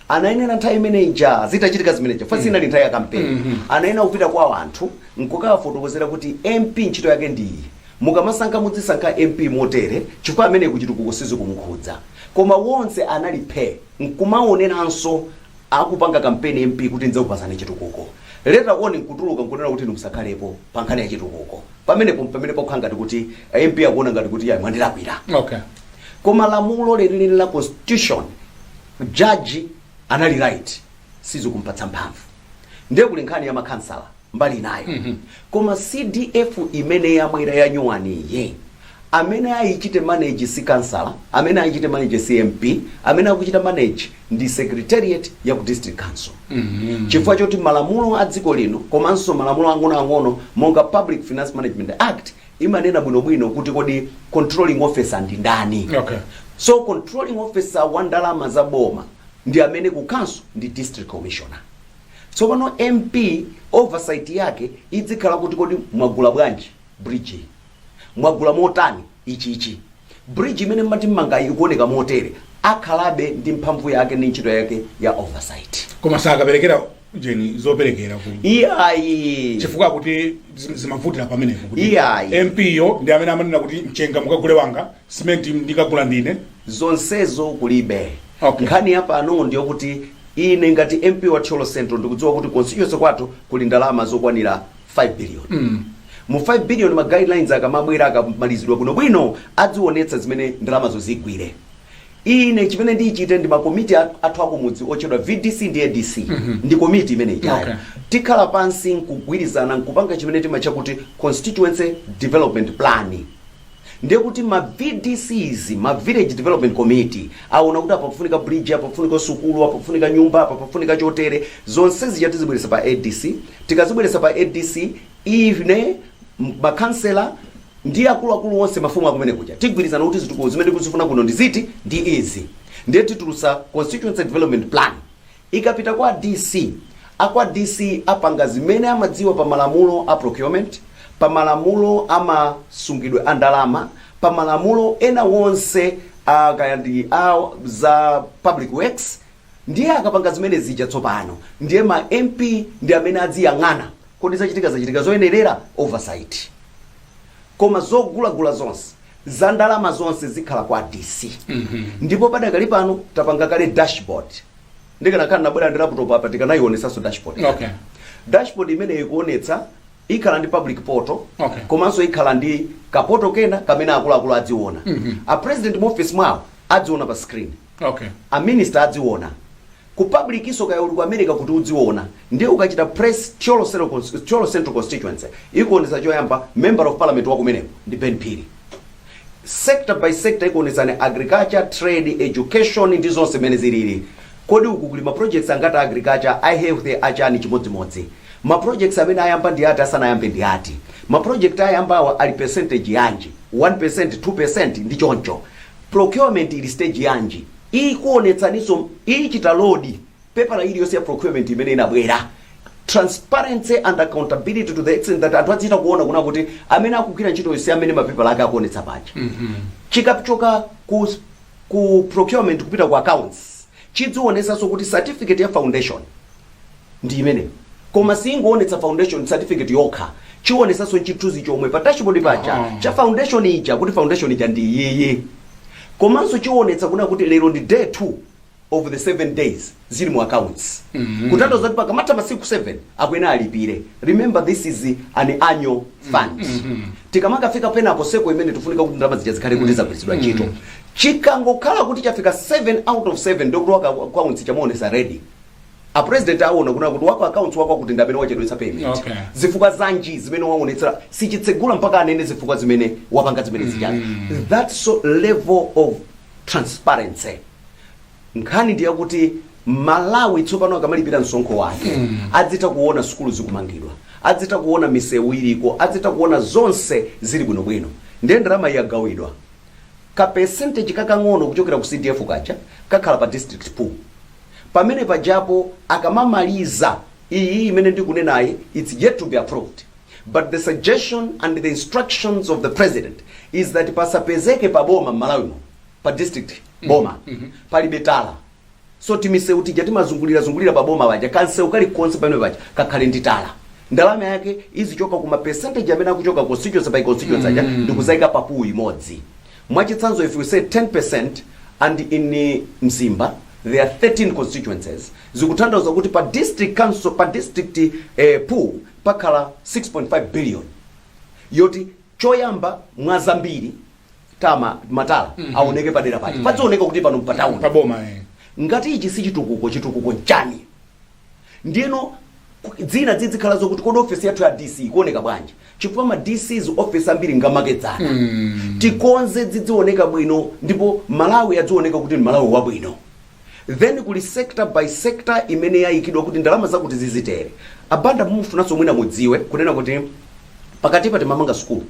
S3: anayenera nthawi imene ija zitachitika zimene zija chifukwa inali nthawi ya kampeni, anayenera kupita kwa anthu nkukawafotokozera kuti MP ntchito yake ndi iyi, mukamasankha mudzisankha MP motere chifukwa ameneyu ku chitukuko sizikumukhudza. Koma wonse anali phe! nkumaoneranso akupanga kampeni MP kuti ndidzakupasani chitukuko later on nkutuluka nkunena kuti inu musakhalepo pa nkhani ya chitukuko pamenepo mpamene pakukhala ngati kuti a MP akuona ngati kuti iyayi mwandilakwira
S2: okay koma
S3: lamulo lenileni la constitution jaji anali right sizikumpatsa mphamvu ndiye kuli nkhani ya makhansala mbali inayo mm -hmm. koma cdf imene yabwera yanyuwaniyi amene ayichite manage si kansala amene ayichite manage si mp amene akuchita manage ndi secretariat ya ku district council mm -hmm. chifukwa choti malamulo a dziko lino komanso malamulo ang'onoang'ono monga public finance management act imanena bwinobwino kuti kodi controlling officer ndi ndani okay. so
S2: controlling
S3: officer wa ndalama za boma ndi amene ku council ndi district commissioner Tsopano MP oversight yake idzikhala kuti kodi mwagula bwanji bridge iyi? Mwagula motani ichichi? Bridge imene mumati mmangayi ikuoneka motere. Akhalabe ndi mphamvu yake ndi ntchito yake ya oversight. koma
S2: sakaperekera jeni zoperekera ku
S3: Iyayi. chifukwa kuti
S2: zim- zimavutira pamenepo kuti Iyayi. mp yo
S3: ndi amene
S2: amanena kuti mchenga mukagule wanga Cement ndikagula ndine. Zonsezo
S3: kulibe. Okay. Nkhani ya
S2: pano
S3: ndiyokuti ine ngati MP wa Thyolo Central ndikudziwa kuti constituency kwathu kuli ndalama zokwanira 5 billion. Mu 5 billion ma guidelines akamabwera akamalizidwa bwino bwino adziwonetsa zimene ndalamazo zigwire. Ine chimene ndichite ndi ma committee at- athu akumudzi otchedwa VDC ndi ADC ndi committee imene Okay. ijayo. Tikhala
S2: pansi
S3: nkugwirizana nkupanga chimene timatcha kuti constituency development plan. Ndiye kuti ma VDCs, ma Village Development Committee, aona kuti apa pafunika bridge, apa pafunika sukulu, apa pafunika nyumba, apa pafunika chotere, zonse zija tizibweretsa pa ADC, tikazibweretsa pa ADC, ine, ma Councillor, ndi akuluakulu onse, mafumu akumene kuja, tigwirizana kuti zitukuko zimene tikuzifuna kuno ndi ziti, ndi izi. Ndiye titulutsa Constituency Development Plan. Ikapita kwa DC, a kwa DC apanga zimene amadziwa pa malamulo a procurement, pa malamulo a ma sungidwe a ndalama, pa malamulo ena onse a kaya ndi a za public works, ndiye akapanga zimene zija tsopano ndiye ma MP ndi amene adziyang'ana kodi zachitika zachitika zoyenerera oversight. Koma zogulagula zonse za ndalama zonse zikhala kwa DC ndipo padakali pano tapanga kale dashboard ndikanakhala nabwera ndi laptop apa tikanayionesanso dashboard Okay.
S2: dashboard imeneyi
S3: ikuonetsa ikhala ndi public portal Okay. komanso ikhala
S2: ndi
S3: kapoto kena kamene akuluakulu adziona a president mu office mwawo adziona pa screen Okay. a
S2: minister
S3: adziona Ku publicinso kaya uli ku America kuti udziona ndiye ukachita press Thyolo Central Constituency ikuonetsa choyamba Member of Parliament wa kumeneko ndi Ben Phiri sector by sector ikuonetsani Agriculture, Trade, Education ndi zonse mmene zilili. Kodi uku kuli ma projects angati a Agriculture, a Health, a chani chimodzimodzi. Ma projects amene ayamba ndi ati sanayambe ndi ati. Ma project ayambawa ali percentage yanji 1%, 2% ndi choncho. Procurement ili stage yanji. Ikuonetsaninso, ichita load pepala iliyonse ya procurement imene inabwera. Transparency and accountability to the extent that anthu adzichita kuona kunena kuti amene akugwira ntchitoyo si amene mapepala ake akuonetsa paja. Chikachoka ku, ku procurement kupita ku accounts, chidzionetsanso kuti certificate ya foundation ndi imene koma siingoonetsa foundation certificate yokha chionesanso chithunzi chomwe pa dashboard paja Aha. cha foundation ija kuti foundation ija ndi iyiyi komanso chionetsa kuna kuti lero ndi day 2 of the 7 days zili mu accounts kutanthauza kuti pakamatha masiku 7 akuyenera alipire remember this is an annual fund tikamakafika penaposeko imene tifunika kuti ndalama zija zikhale kuti zagwiritsidwa ntchito chikangokhala kuti chafika 7 out of 7 ndikulowa ku accounts chimuonesa red a president aona kuna kuti waku accounts wakwakuti ndi amene wachedwetsa payment Okay. zifukwa zanji zimene waonetsera sichitsegula mpaka anene zifukwa zimene wapanga zimene zija that's level of transparency nkhani ndi yakuti m'Malawi tsopano akamalipira msonkho wake adzitha kuona sukulu zikumangidwa adzitha kuona misewu iliko adzitha kuona zonse zili bwinobwino ndiye ndalama yagawidwa Ka percentage kakang'ono kuchokera ku CDF kaja kakhala pa district pool pamene pajapo akamamaliza iyi imene ndikunenayi its yet to be approved but the suggestion and the instructions of the president is that pasapezeke pa boma m'Malawi muno pa district boma palibe tala so timisewu tija timazungulira zungulira pa boma paja kamsewu kalikonse pamene paja kakhale ndi tala ndalama yake izichoka ku ma percentage amene akuchoka constituency by constituency aja ndikuzaika pa pool imodzi mwachitsanzo if we say 10% and in eh, mzimba there are 13 constituencies zikutanthauza kuti pa district council pa district eh, pool pakhala 6.5 billion yoti choyamba mwa zambiri timamatala aoneke padera pake padzioneka kuti pano mpatauni paboma eh.
S2: ngati ichi si
S3: chitukuko chitukuko nchani ndiyeno ku- zina zidzikhala zokuti kodi ofesi yathu ya dc ikuoneka bwanji chifukwa ma dcs ofesi ambiri ngamakedzana tikonze zidzioneka bwino ndipo malawi adzioneka kuti ndi malawi wabwino Then kuli sector by sector imene yayikidwa kuti ndalama zakuti zizitere. A Banda mumufunanso mwina mudziwe kunena kuti pakatipa timamanga sukulu.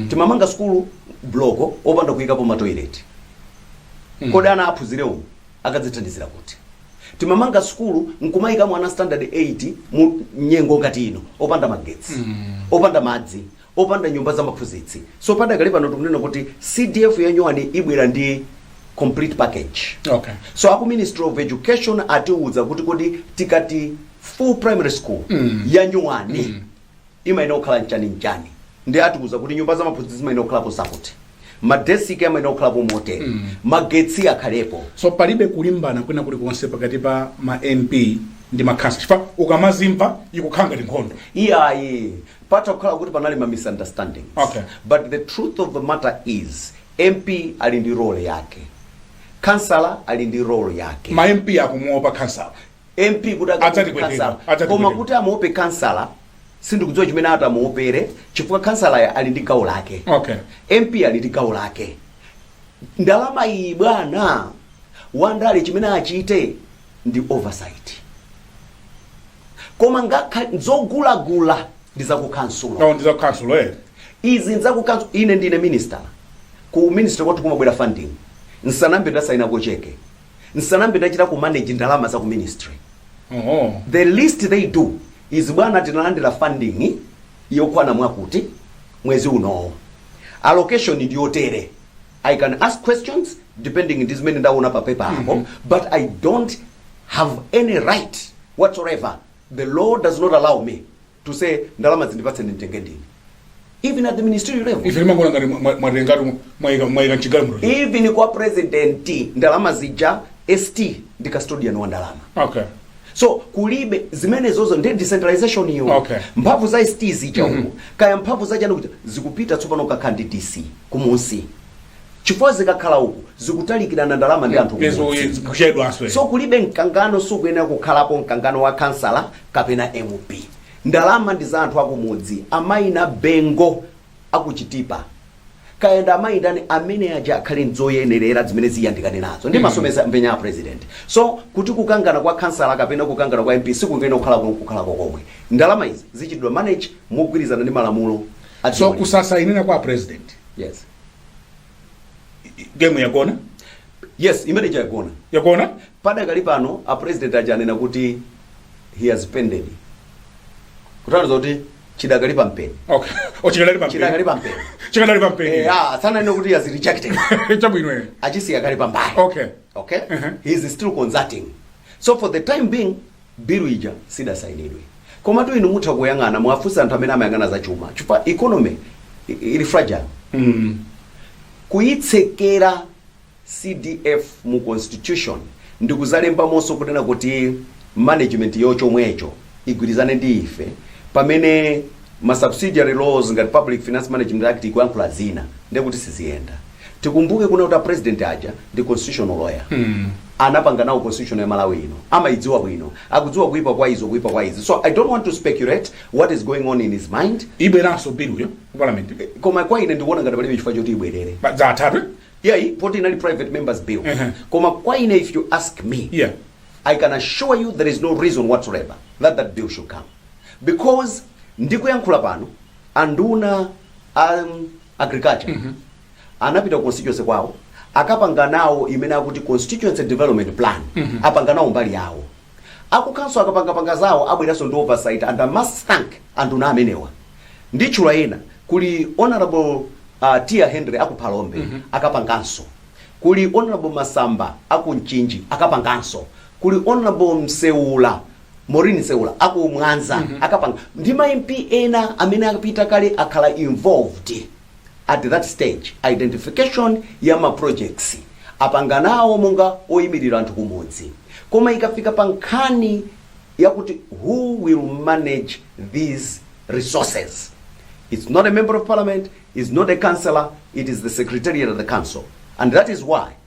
S3: Timamanga sukulu bloko opanda kuyikapo ma toilet. Kodi ana aphunzire umu akadzithandizira kuti? Timamanga sukulu nkumayikamo ana standard 8 mu nyengo ngati ino opanda magetsi, opanda madzi. opanda nyumba za maphunzitsi so padakali pano tikunena kuti cdf ya nyuwani ibwera ndi complete package Okay. so
S2: aku ministry of
S3: education atiwuza kuti kodi tikati full primary school mm. ya nyuwani mm. imayenera kukhala nchani nchani ndi atiwuza kuti nyumba za maphunzitsi zimayenera kukhalapo zakuti madesiki amayenera kukhalapo motere mm. magetsi akhalepo so palibe kulimbana
S2: kwina kulikonse pakati pa ma mp ndi makhansa chifukwa ukamazimva ikukhala ngati nkhondo iyayi
S3: Patha kukhala kuti panali ma misunderstandings Okay. but the
S2: truth of
S3: the matter is MP ali ndi role yake, Khansala ali ndi role yake. ma mp akumuopa
S2: khansala MP kuti akamuope
S3: Adzatipweteka, Khansala adzatipweteka. koma kuti amuope Khansala sindikudziwa chimene atamuopere chifukwa Khansala ali ndi gawo lake. okay MP
S2: ali ndi gawo
S3: lake. Ndalama iyi bwana wandale chimene achite ndi oversight koma ngakha zogulagula ndi zakukhansulo No ndi zakukhansulo eh.
S2: izi
S3: nzakukhansulo ine ndine minister ku ministry kwathu kumabwera funding nsanambe ndasayina kocheke nsanambe ndachita ku manage ndalama za ku ministry Oh. the least they do is bwana tinalandira funding yokwana mwakuti mwezi unowo allocation ndiyotere I can ask questions depending ndi zimene ndaona pa paper apo but I don't have any right whatsoever the law does not allow me to say ndalama zi ndipatse nditenge ndine even at the ministerial level ife timangoona ngati mwa- mwa-
S2: mwatengatu mwayika mwayika mchigayo muno even
S3: kwa president ndalama zija st ndi custodian wa ndalama okay so kulibe zimenezozo ndi decentralization iyo Okay. mphamvu za st zija uko kaya mphamvu za chani kuja zikupita tsopano kakhala ndi dc kumunsi chifukwa zikakhala uku zikutalikirana ndalama ndi anthu kuchedwanso.
S2: so kulibe
S3: mkangano sukuyenera kukhalapo mkangano wa kansala kapena mp ndalama ndi za anthu akumudzi amayi na bengo aku Chitipa Kayenda amayi ndani amene aja akhale nzoyenerera zimene ziyandikane nazo ndi masomphenya a president so kuti kukangana kwa kansala kapena kukangana kwa mp sikukuyenera kukhalako komwe ndalama izi zichitidwe manage mogwirizana ndi malamulo So
S2: kusasainira kwa president yes game yagona yes
S3: imene ija yagona yagona
S2: padakali pano
S3: a president aja anena kuti he has pended kutanthauza kuti chidakali pa mpeni okay o
S2: chikadali pa chidakali pa
S3: mpeni chikadali pa mpeni
S2: Eh, ah, sananena kuti he
S3: has rejected chabwino eh.
S2: achisiya kaye
S3: pambali okay okay Mhm. he is still consulting so for the time being Bill ija sidasainidwe. Komatu inu mutha kuyang'ana muwafunse anthu amene amayang'ana za chuma chifukwa economy ili fragile. mm. kuyitsekera CDF mu constitution ndikuzalembamonso kunena kuti management yo chomwecho igwirizane ndi ife pamene ma subsidiary laws ngati Public Finance Management Act ikuyankhula zina ndiye kuti siziyenda. Tikumbuke kunena kuti a president aja ndi constitutional lawyer. Anapanga nawo constitution ya Malawi ino. Amayidziwa bwino. Akudziwa kuipa kwa izo, kuipa kwa izi. So I don't want to speculate what is going on in his mind. Ibweranso biluyo
S2: ku parliament. Koma kwa ine
S3: ndikuona ngati palibe chifukwa choti ibwerere. Pa- Za
S2: atatu. eh? Yeah, i- poti
S3: inali private members bill. Uh-huh. Koma kwa ine if you ask me, Yeah. I can
S2: assure
S3: you there is no reason whatsoever that that bill should come. Because ndikuyankhula pano anduna a um, agriculture anapita ku constituency kwawo akapanga nawo imene akuti constituency development plan apanga nawo mbali yawo akukanso akapangapanga zawo abweranso ndi oversight and I must thank anduna amenewa nditchula ena kuli honorable uh, Tiaone Hendry akuphalombe akapanganso kuli honorable masamba akumchinji akapanganso kuli honorable mseula Maureen Nseula aku Mwanza akapanga ndi ma MP ena amene akapita kale akhala involved at that stage identification ya ma projects apanga nawo monga oyimirira anthu kumudzi koma ikafika pa nkhani yakuti who will manage these resources it's not a member of parliament it's not a councillor it is the secretariat of the council and that is why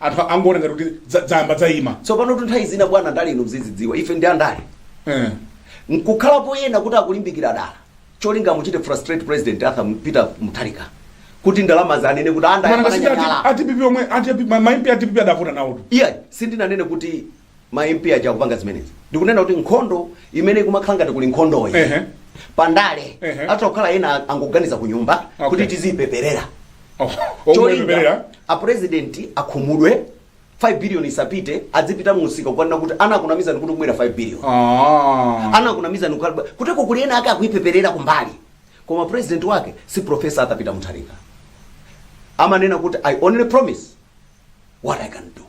S2: Anthu angoona ngati kuti za- zayamba zaima. tsopanotu nthawi
S3: zina bwana andale inu muzidziwa ife ndi andale Eh. nkukhalapo ena kuti akulimbikira dala cholinga muchite frustrate president arthur M- peter mutharika kuti ndalama za anene kuti mwina ngati paja a DPP anda anyanyala a DPP omwe a
S2: DP- ma- ma MP a DPP adavota nawotu. iye sindinanene
S3: kuti ma MP aja akupanga zimenezi ndikunena kuti nkhondo imene ikumakhala ngati kuli nkhondoyi Ehe. pandale Ehe. atokhala ena angoganiza ku nyumba Okay. kuti tiziyipeperera cholinga a president akhumudwe 5 billion isapite adzipita mu msika kukanena kuti anakunamizani kuti kubwera 5 billion Ah. anakunamizani kuteko kuli ena ake akuyipeperera kumbali koma president wake si professor Arthur Peter mutharika amanena kuti i only promise what I can do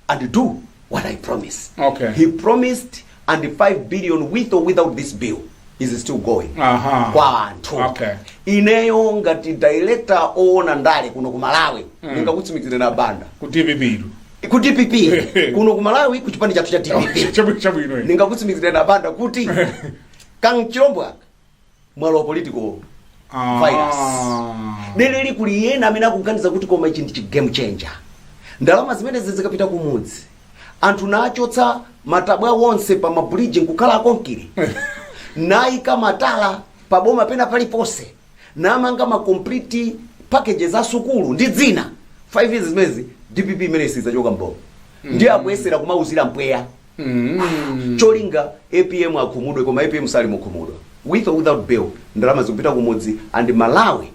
S3: and do what I promise. Okay. He promised and the 5 billion with or without this bill is still going. Aha. Kwa anthu. Okay. Ineyo
S2: ngati
S3: director oona ndale kuno ku Malawi mm. ndingakutsimikizireni a Banda. Ku
S2: DPP. Ku
S3: DPP kuno ku Malawi ku chipani chathu cha DPP. Chabwino chabwino.
S2: Ndingakutsimikizireni a Banda
S3: kuti Kang Chilombo mwalo wa political virus dereli kuli ena amene akuganiza kuti koma ichi ndi chi game changer ndalama zimenezi zikapita kumudzi anthu nachotsa matabwa wonse pa ma bridge nkukhala akonkire nayika matala pa boma pena paliponse namanga ma complete packages a sukulu ndi dzina 5 years zimezi dpp imeneyi sizachoka mboma ndiye akuyesera kumauzira mpweya mm. cholinga apm akhumudwe koma apm sali mukhumudwa with or without bill ndalama zikupita kumudzi and malawi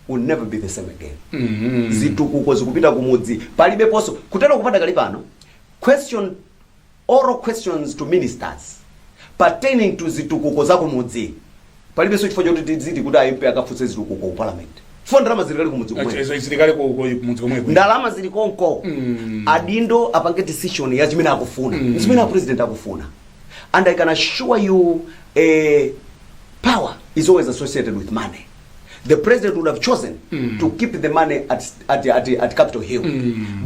S3: will never be the same again mm. zitukuko zikupita kumudzi palibeponso kuteroko padakali pano question oral questions to ministers pertaining to zitukuko za kumudzi Palibenso chifukwa choti tidziti kuti a MP akafunse zitukuko ku Parliament chifukwa ndalama zili kale kumudzi komweko. Izo zili kale
S2: ku mudzi komweko. Ndalama zili
S3: konko. Adindo apange decision ya chimene akufuna. Ndi chimene a President akufuna. And I can assure you eh, power is always associated with money. The President would have chosen to keep the money at, at, at, at Capitol Hill.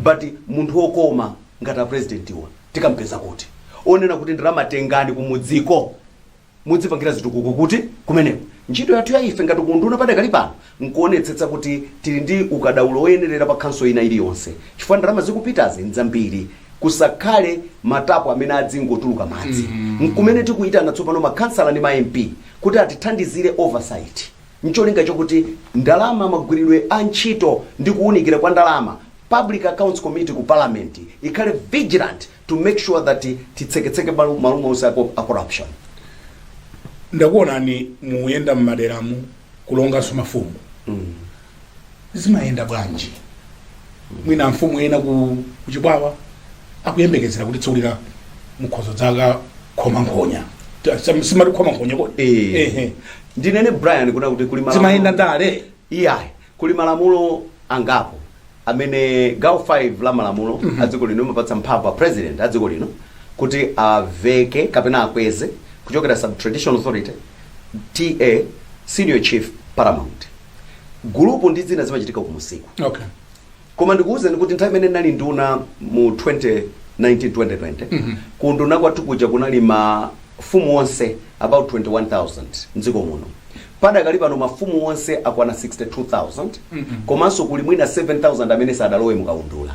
S3: But munthu wokoma ngati a President iwa tikampeza kuti. Wonena kuti ndalama tengani kumudziko. mudzipangira zitukuko kuti kumeneko. Ntchito yathu ya ife ngati ku unduna padakali pano nkuonetsetsa kuti tili ndi ukadaulo woyenerera pa khanso ina iliyonse chifukwa ndalama zikupitazi nzambiri. Kusakhale ma tapu amene adzingotuluka madzi. Nkumene tikuitana tsopano ma khansala ndi ma MP kuti atithandizire oversight ncholinga chokuti ndalama, magwiridwe a ntchito ndi kuunikira kwa ndalama Public Accounts Committee ku Parliament ikhale vigilant to make sure that titseketseke malo malo onse a co- a
S2: corruption. ndakuonani muyenda mmaderamu kulonganso mafumu zimayenda bwanji mwina amfumu ena ku Chikwawa akuyembekezera kuti tsiku lina mukhozo dzakakhoma nkhonya Ta- sam- simati khoma nkhonya kodi Eh. Ehe. Ndinene
S3: Brian kuno kuti kuli malamulo. zimayenda ndale
S2: iyayi Kuli
S3: malamulo angapo amene gawo 5 la malamulo a dziko lino limapatsa mphamvu a President a dziko lino kuti aveke kapena akweze kuchokera sub traditional authority TA senior chief paramount gulupu ndi zina zimachitika kumusiku. Okay.
S2: Koma
S3: ndikuuzeni kuti nthawi imene ndinali nduna mu 2019 2020 ku unduna kwathu kuja kunali mafumu onse about 21000 mdziko muno padakali pano mafumu onse akwana 62000 komanso kuli mwina 7000 amene sadalowe mukaundula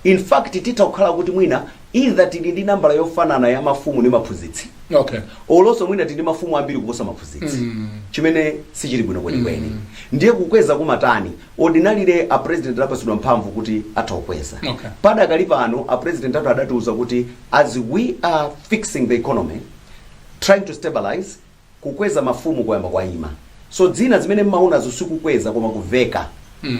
S3: in fact titha kukhala kuti mwina either tili ndi nambala yofanana ya mafumu ndi maphunzitsi okay olonso
S2: mwina tili ndi
S3: mafumu ambiri kuposa maphunzitsi chimene sichili bwino kwenikweni ndiye kukweza kumatani Ordinarily a president anapatsidwa mphamvu kuti atha kukweza. Okay.
S2: Padakali pano a
S3: president athu adatiuza kuti as we are fixing the economy, trying to stabilize, kukweza mafumu kwayamba kwayima. So zina zimene mmaonazo sikukweza koma kuveka.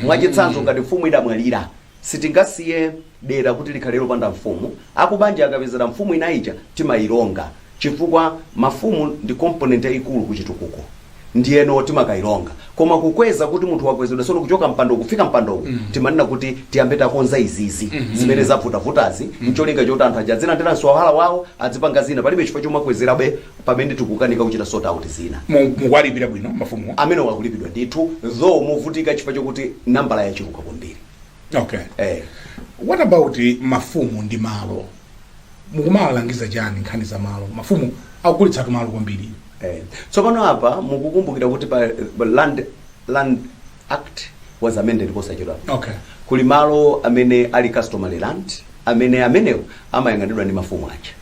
S3: Mwachitsanzo ngati mfumu idamwalira, Sitingasiye dera kuti likhale lopanda mfumu, akubanja akapezera mfumu ina ija timailonga chifukwa mafumu ndi component yaikulu ku chitukuko ndiyeno timakailonga koma kukweza kuti munthu wakwezedwa tsono kuchoka mpando kufika mpando uwu timanena kuti tiyambe takonza izizi zimene zavutavutazi ncholinga choti anthu aja adzilandiranso mswahala wawo adzipanga zina palibe chifukwa chomakwezerabe pamene tikukanika kuchita sort out zina. Mukuwalipira
S2: bwino mafumuwo? Amenewo akulipidwa
S3: ndithu though movutika chifukwa chokuti nambala yachuluka kwambiri. Okay. Eh.
S2: What about mafumu ndi malo? Mukumawalangiza chani nkhani za malo? Mafumu akugulitsatu malo kwambiri. Eh.
S3: Tsopano apa mukukumbukira kuti pa pa land land act was amended posachedwa. Okay. Kuli
S2: malo
S3: amene ali customary land amene amenewo amayang'anidwa ndi mafumu aja.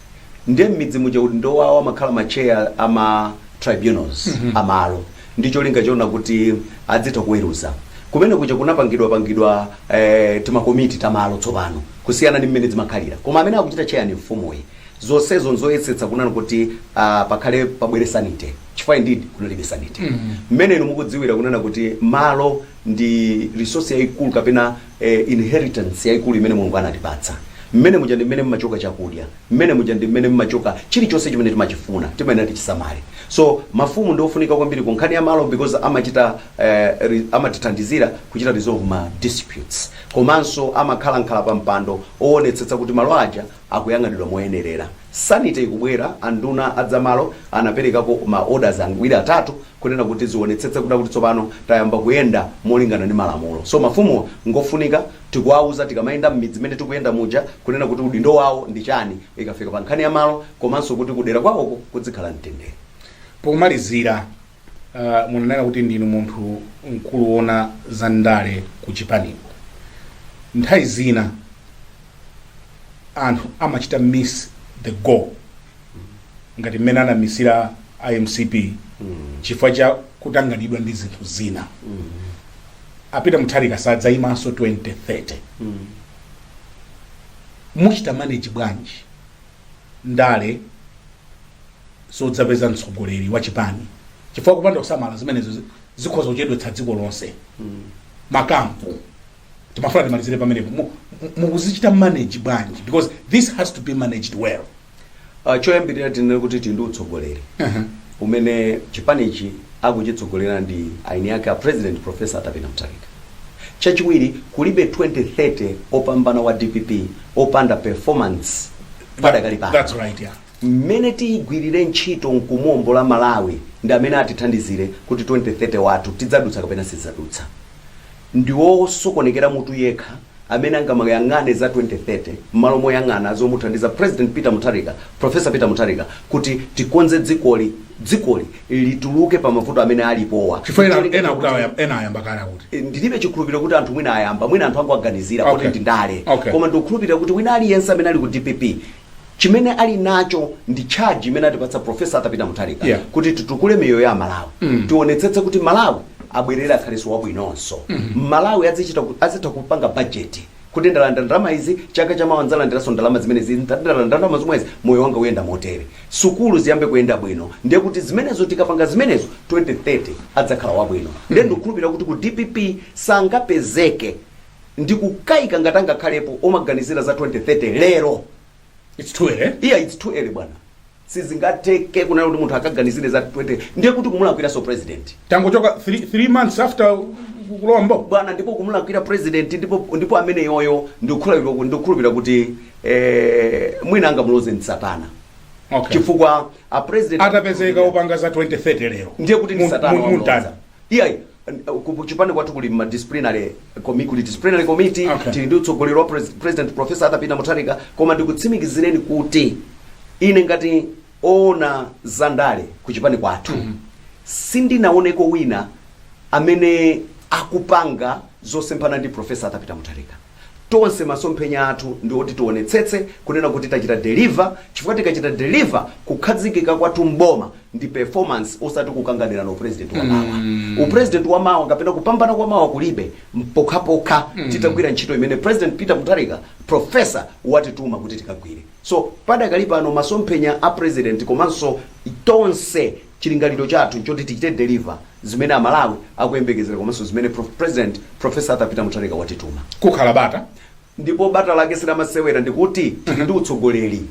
S3: ndiye mmidzi muja udindo wawo amakhala ma chair a ma tribunals a malo ndi cholinga chona kuti adzitha kuweruza kumene kuja kunapangidwapangidwa eh, timakomiti tamalo tsopano kusiyana ndi mmene zimakhalira koma amene akuchita chair ni mfumuyi zonsezo nzoyesetsa kunena kuti ah, pakhale pabwere sanity chifukwa indeed kunalibe sanity mmene inu mukudziwira kunena kuti malo ndi resource yayikulu kapena eh, inheritance yaikulu imene mulungu anatipatsa mmene muja ndi mmene mmachoka chakudya mmene muja ndi mmene mmachoka chilichonse chimene timachifuna timayenera tichisamale so mafumu ndi ofunika kwambiri ku nkhani ya malo because amachita eh, re- amatithandizira kuchita resolve ma disputes komanso amakhalakhala pa mpando owonetsetsa kuti malo aja akuyang'anidwa moyenerera sanity ikubwera anduna a zamalo anaperekapo ma orders angwiro atatu kunena kuti zionetsetse kuti tsopano tayamba kuyenda molingana ndi malamulo. So mafumuwa ngofunika tikuwauza tikamayenda mmidzi mmene tikuyenda muja kunena kuti udindo wawo ndi chani ikafika pa nkhani ya malo komanso kuti kudera kwawoko kudzikhala mtendere.
S2: Pomalizira, munanena kuti ndinu munthu mkulu woona za ndale ku chipaniko. Nthawi zina anthu amachita miss the goal. ngati mmene anamisira a mcp chifukwa cha kutanganidwa ndi zinthu zina a Peter Mutharika sadzayimanso 2030 muchita manage bwanji ndale zodzapeza mtsogoleri wa chipani chifukwa kupanda kusamala zimenezo zi- zikhoza kuchedwetsa dziko lonse makampu timafuna timalizire pamenepo Mu- mu- mukuzichita manage bwanji because this has to be managed well Ah,
S3: choyambirira tinene kuti tili ndi utsogoleri umene chipanichi akuchitsogolera ndi eni ake a president professor Arthur Peter mutharika chachiwiri kulibe 2030 opambana wa dpp opanda performance padakali pano that's right
S2: yeah mmene tiyigwirire
S3: ntchito nkumuombola malawi ndi mmene atithandizire kuti 2030 wathu tidzadutsa kapena sitidzadutsa Ndi wosokonekera mutu yekha amene angamayang'ane za 2030 mmalo moyang'ana zomuthandiza President Peter Mutharika, Prof. Peter Mutharika, kuti tikonze dzikoli, dzikoli lituluke pa mavuto amene alipowa Chifukwa ena, n'cholinga ena akuti
S2: chakuti awayamba, ena ayamba kale akuti. E, ndilibe chikhulupiriro
S3: kuti anthu mwina ayamba mwina anthu angowaganizira poti Okay. ndi ndale Okay. koma ndikukhulupirira kuti wina aliyense amene ali ku dpp chimene ali nacho ndi charge imene atipatsa profesa Arthur Peter mutharika Yeah. kuti titukule miyoyo ya amalawi tionetsetse kuti malawi abwerere akhalenso wabwinonso amalawi azichita ku- azitha kupanga bajeti kuti ndalandira ndalama izi chaka chamawa ndzalandiranso ndalama zimenezi ndalandira ndalama zomwezi moyo wanga uyenda motere sukulu ziyambe kuyenda bwino ndiye kuti zimenezo tikapanga zimenezo 2030 adzakhala wabwino ndiye ndikukhulupirira kuti ku dpp sangapezeke ndikukayika ngati angakhalepo omaganizira za
S2: 2030 lero
S3: It's too early. iya its
S2: too early
S3: bwana sizingatheke kunena kuti munthu akaganizire za 20 ndiye kuti kumulakwiranso president Tangochoka 3
S2: 3 months after kulowa m'boma. bwana ndipo
S3: kumulakwira president ndipo ndipo ameneyoyo ndikukhulupirira kuti ndikukhulupirira kuti eh, mwina angamuloze ndi satana Okay. chifukwa
S2: a
S3: president Atapezeka opanga za
S2: 2030 lero. ndiye kuti ndi Mu- satana mu- wamloza.
S3: muntani. Iyayi, ku ku chipani kwathu kuli ma disciplinary committee, kuli disciplinary committee Okay. tili ndi
S2: utsogoleri wa pres-
S3: president professor Arthur Peter Mutharika koma ndikutsimikizireni kuti ine ngati woona za ndale ku chipani kwathu sindinaoneko wina amene akupanga zosemphana ndi professor Arthur Peter Mutharika Tonse masomphenya athu ndi oti tionetsetse kunena kuti tachita deliver chifukwa tikachita deliver kukhazikika kwathu m'boma ndi performance osati kukanganirana upresident wa mawa. Upresident wa mawa kapena kupambana kwa mawa kulibe mpokhapokha titagwira ntchito imene President Peter Mutharika Prof. watituma kuti tikagwire. So padakali pano masomphenya a President komanso tonse Chilingaliro chathu nchoti tichite deliver zimene Amalawi akuyembekezera komanso zimene President Prof. Arthur Peter Mutharika watituma. Kukhala bata
S2: ndipo bata
S3: lake si lamasewera ndi kuti tili ndi utsogoleri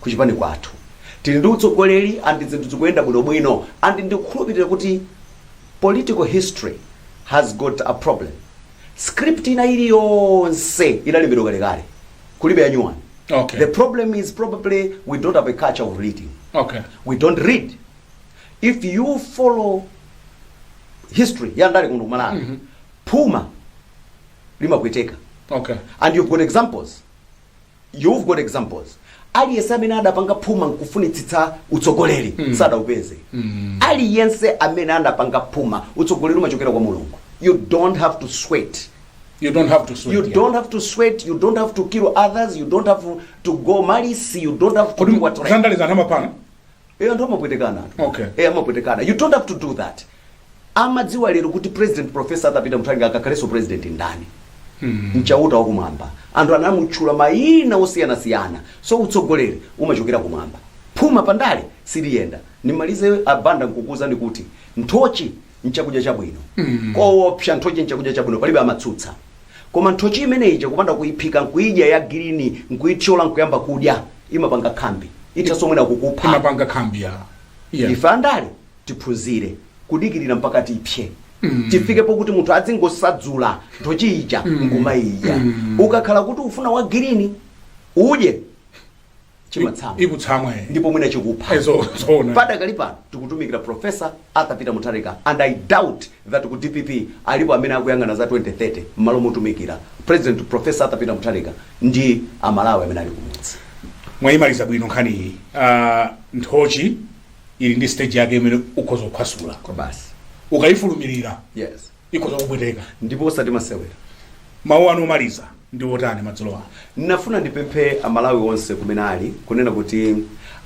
S3: ku chipani kwathu. Tili ndi utsogoleri and zinthu zikuyenda bwino bwino and ndikukhulupilira kuti political history has got a problem. Script ina iliyonse inalembedwa kalekale. Kulibe ya new one. Okay. The
S2: problem
S3: is probably we don't have a culture of reading. Okay. We
S2: don't
S3: read. If you follow history ya ndale kuno ku Malawi mm -hmm. phuma limapweteka Okay.
S2: and you've got
S3: examples you've got examples aliyense amene adapanga phuma nkufunitsitsa utsogoleri mm. sadaupeze mm. aliyense amene adapanga phuma utsogoleri umachokera kwa mulungu you don't have to sweat You don't have to sweat. You don't have to sweat, you don't have to kill others, you don't have to go malice, you don't have to do what. Kodi
S2: Eh ndo
S3: mapwetekana. Okay. Eh amapwetekana.
S2: You don't have
S3: to do that. Amadziwa lero kuti President Professor Arthur Peter Mutharika akakhalenso president ndani. Hmm. Ndi Chauta wa kumwamba. Anthu anamutchula mayina osiyana siyana. So utsogoleri umachokera kumwamba. Phuma pandale siliyenda. Ndimalize a Banda nkukuuzani kuti nthochi nchakudya chabwino koopsa nthochi nchakudya chabwino palibe amatsutsa koma nthochi imeneyi chakupanda kuyiphika nkuyidya ya girini nkuyithyola nkuyamba kudya imapanga khambi ithanso mwina kukupha imapanga khambi ya
S2: ya ife
S3: andale tiphunzire kudikirira mpaka tipse tifike pokuti munthu adzingosadzula nthochi ija nkumayidya ukakhala kuti ufuna wa girini udye chimatsamwa ukutsamwa
S2: eh. ndipo mwina chikupha
S3: Eh, zo- zoona
S2: padakali
S3: pano tikutumikira profesa arthur peter mutharika and i doubt that ku dpp alipo amene akuyang'ana za 2030 m'malo motumikira president profesa arthur peter mutharika ndi amalawi amene ali kumudzi mwayimaliza
S2: bwino nkhani iyi Ah, nthochi ili ndi stage yake imene ukhoza kuphwasula kwa basi
S3: ukayifulumirira
S2: yes
S3: ikhoza
S2: kupweteka. ndipo osati
S3: masewera. Mawu
S2: anu omaliza ndi otani madzulo ano? Ndinafuna
S3: ndipemphe Amalawi onse kumene ali kunena kuti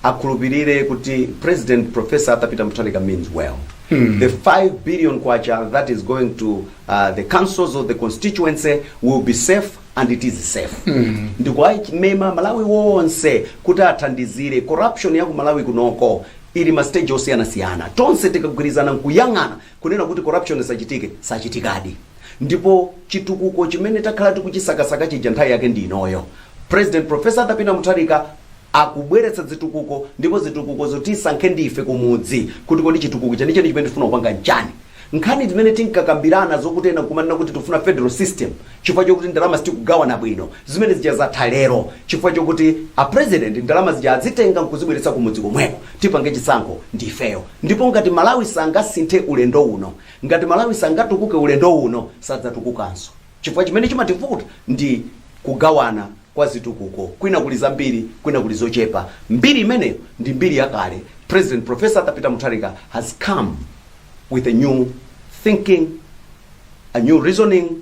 S3: akhulupirire kuti President Professor Arthur Peter Mutharika means well. The 5 billion kwacha that is going to uh, the councils of the constituency will be safe and it is safe. Ndikuwamema Malawi wonse kuti athandizire corruption ya ku Malawi kunoko ili m'ma stage osiyanasiyana tonse tikagwirizana nkuyang'ana Kunena kuti corruption isachitike sachitikadi ndipo chitukuko chimene takhala tikuchisakasaka chija nthawi yake ndi inoyo. President Prof. Arthur Peter Mutharika akubweretsa zitukuko ndipo zitukukozo tisankhe ndi ife kumudzi kuti kodi chitukuko chenicheni chimene tikufuna kupanga nchani. Nkhani zimene tinkakambirana zokuti ena kumanena kuti tikufuna federal system chifukwa chokuti ndalama sitikugawana bwino, zimene zija zatha lero chifukwa chokuti a President ndalama zija azitenga nkuzibweretsa kumudzi komweko. Tipange chisankho ndi ifeyo ndipo ngati Malawi sangasinthe ulendo uno, ngati Malawi sangatukuke ulendo uno, sadzatukukanso chifukwa chimene chimativuta ndi kugawana kwa zitukuko, kwina kuli zambiri kwina kuli zochepa, mbiri imeneyo ndi mbiri yakale, President Prof. Arthur Peter Mutharika has come with a new thinking, a new reasoning,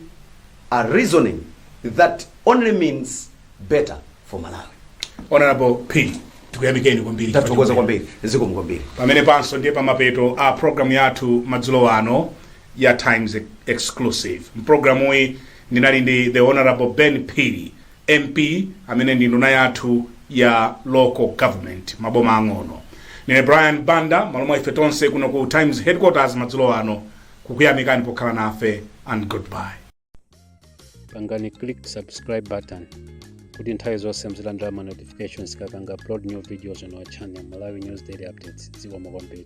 S3: a reasoning that only means better for malawi honorable
S2: Phiri tikuyamikeni kwambiri tathokoza
S3: kwambiri zikomo kwambiri pamenepanso
S2: ndiye pamapeto a programu yathu madzulo ano ya times Ex- exclusive mprogramuyi ndinali ndi the honorable Ben Phiri mp amene ndi nduna yathu ya local government maboma ang'ono ndine brian banda m'malo mwa ife tonse kuno ku times headquarters madzulo ano kukuyamikani pokhala nafe and goodbye pangani
S1: click
S2: subscribe
S1: button kuti nthawi zonse muzilandira ma notifications tikapanga upload new videos on our channel malawi news daily updates zikomo kwambiri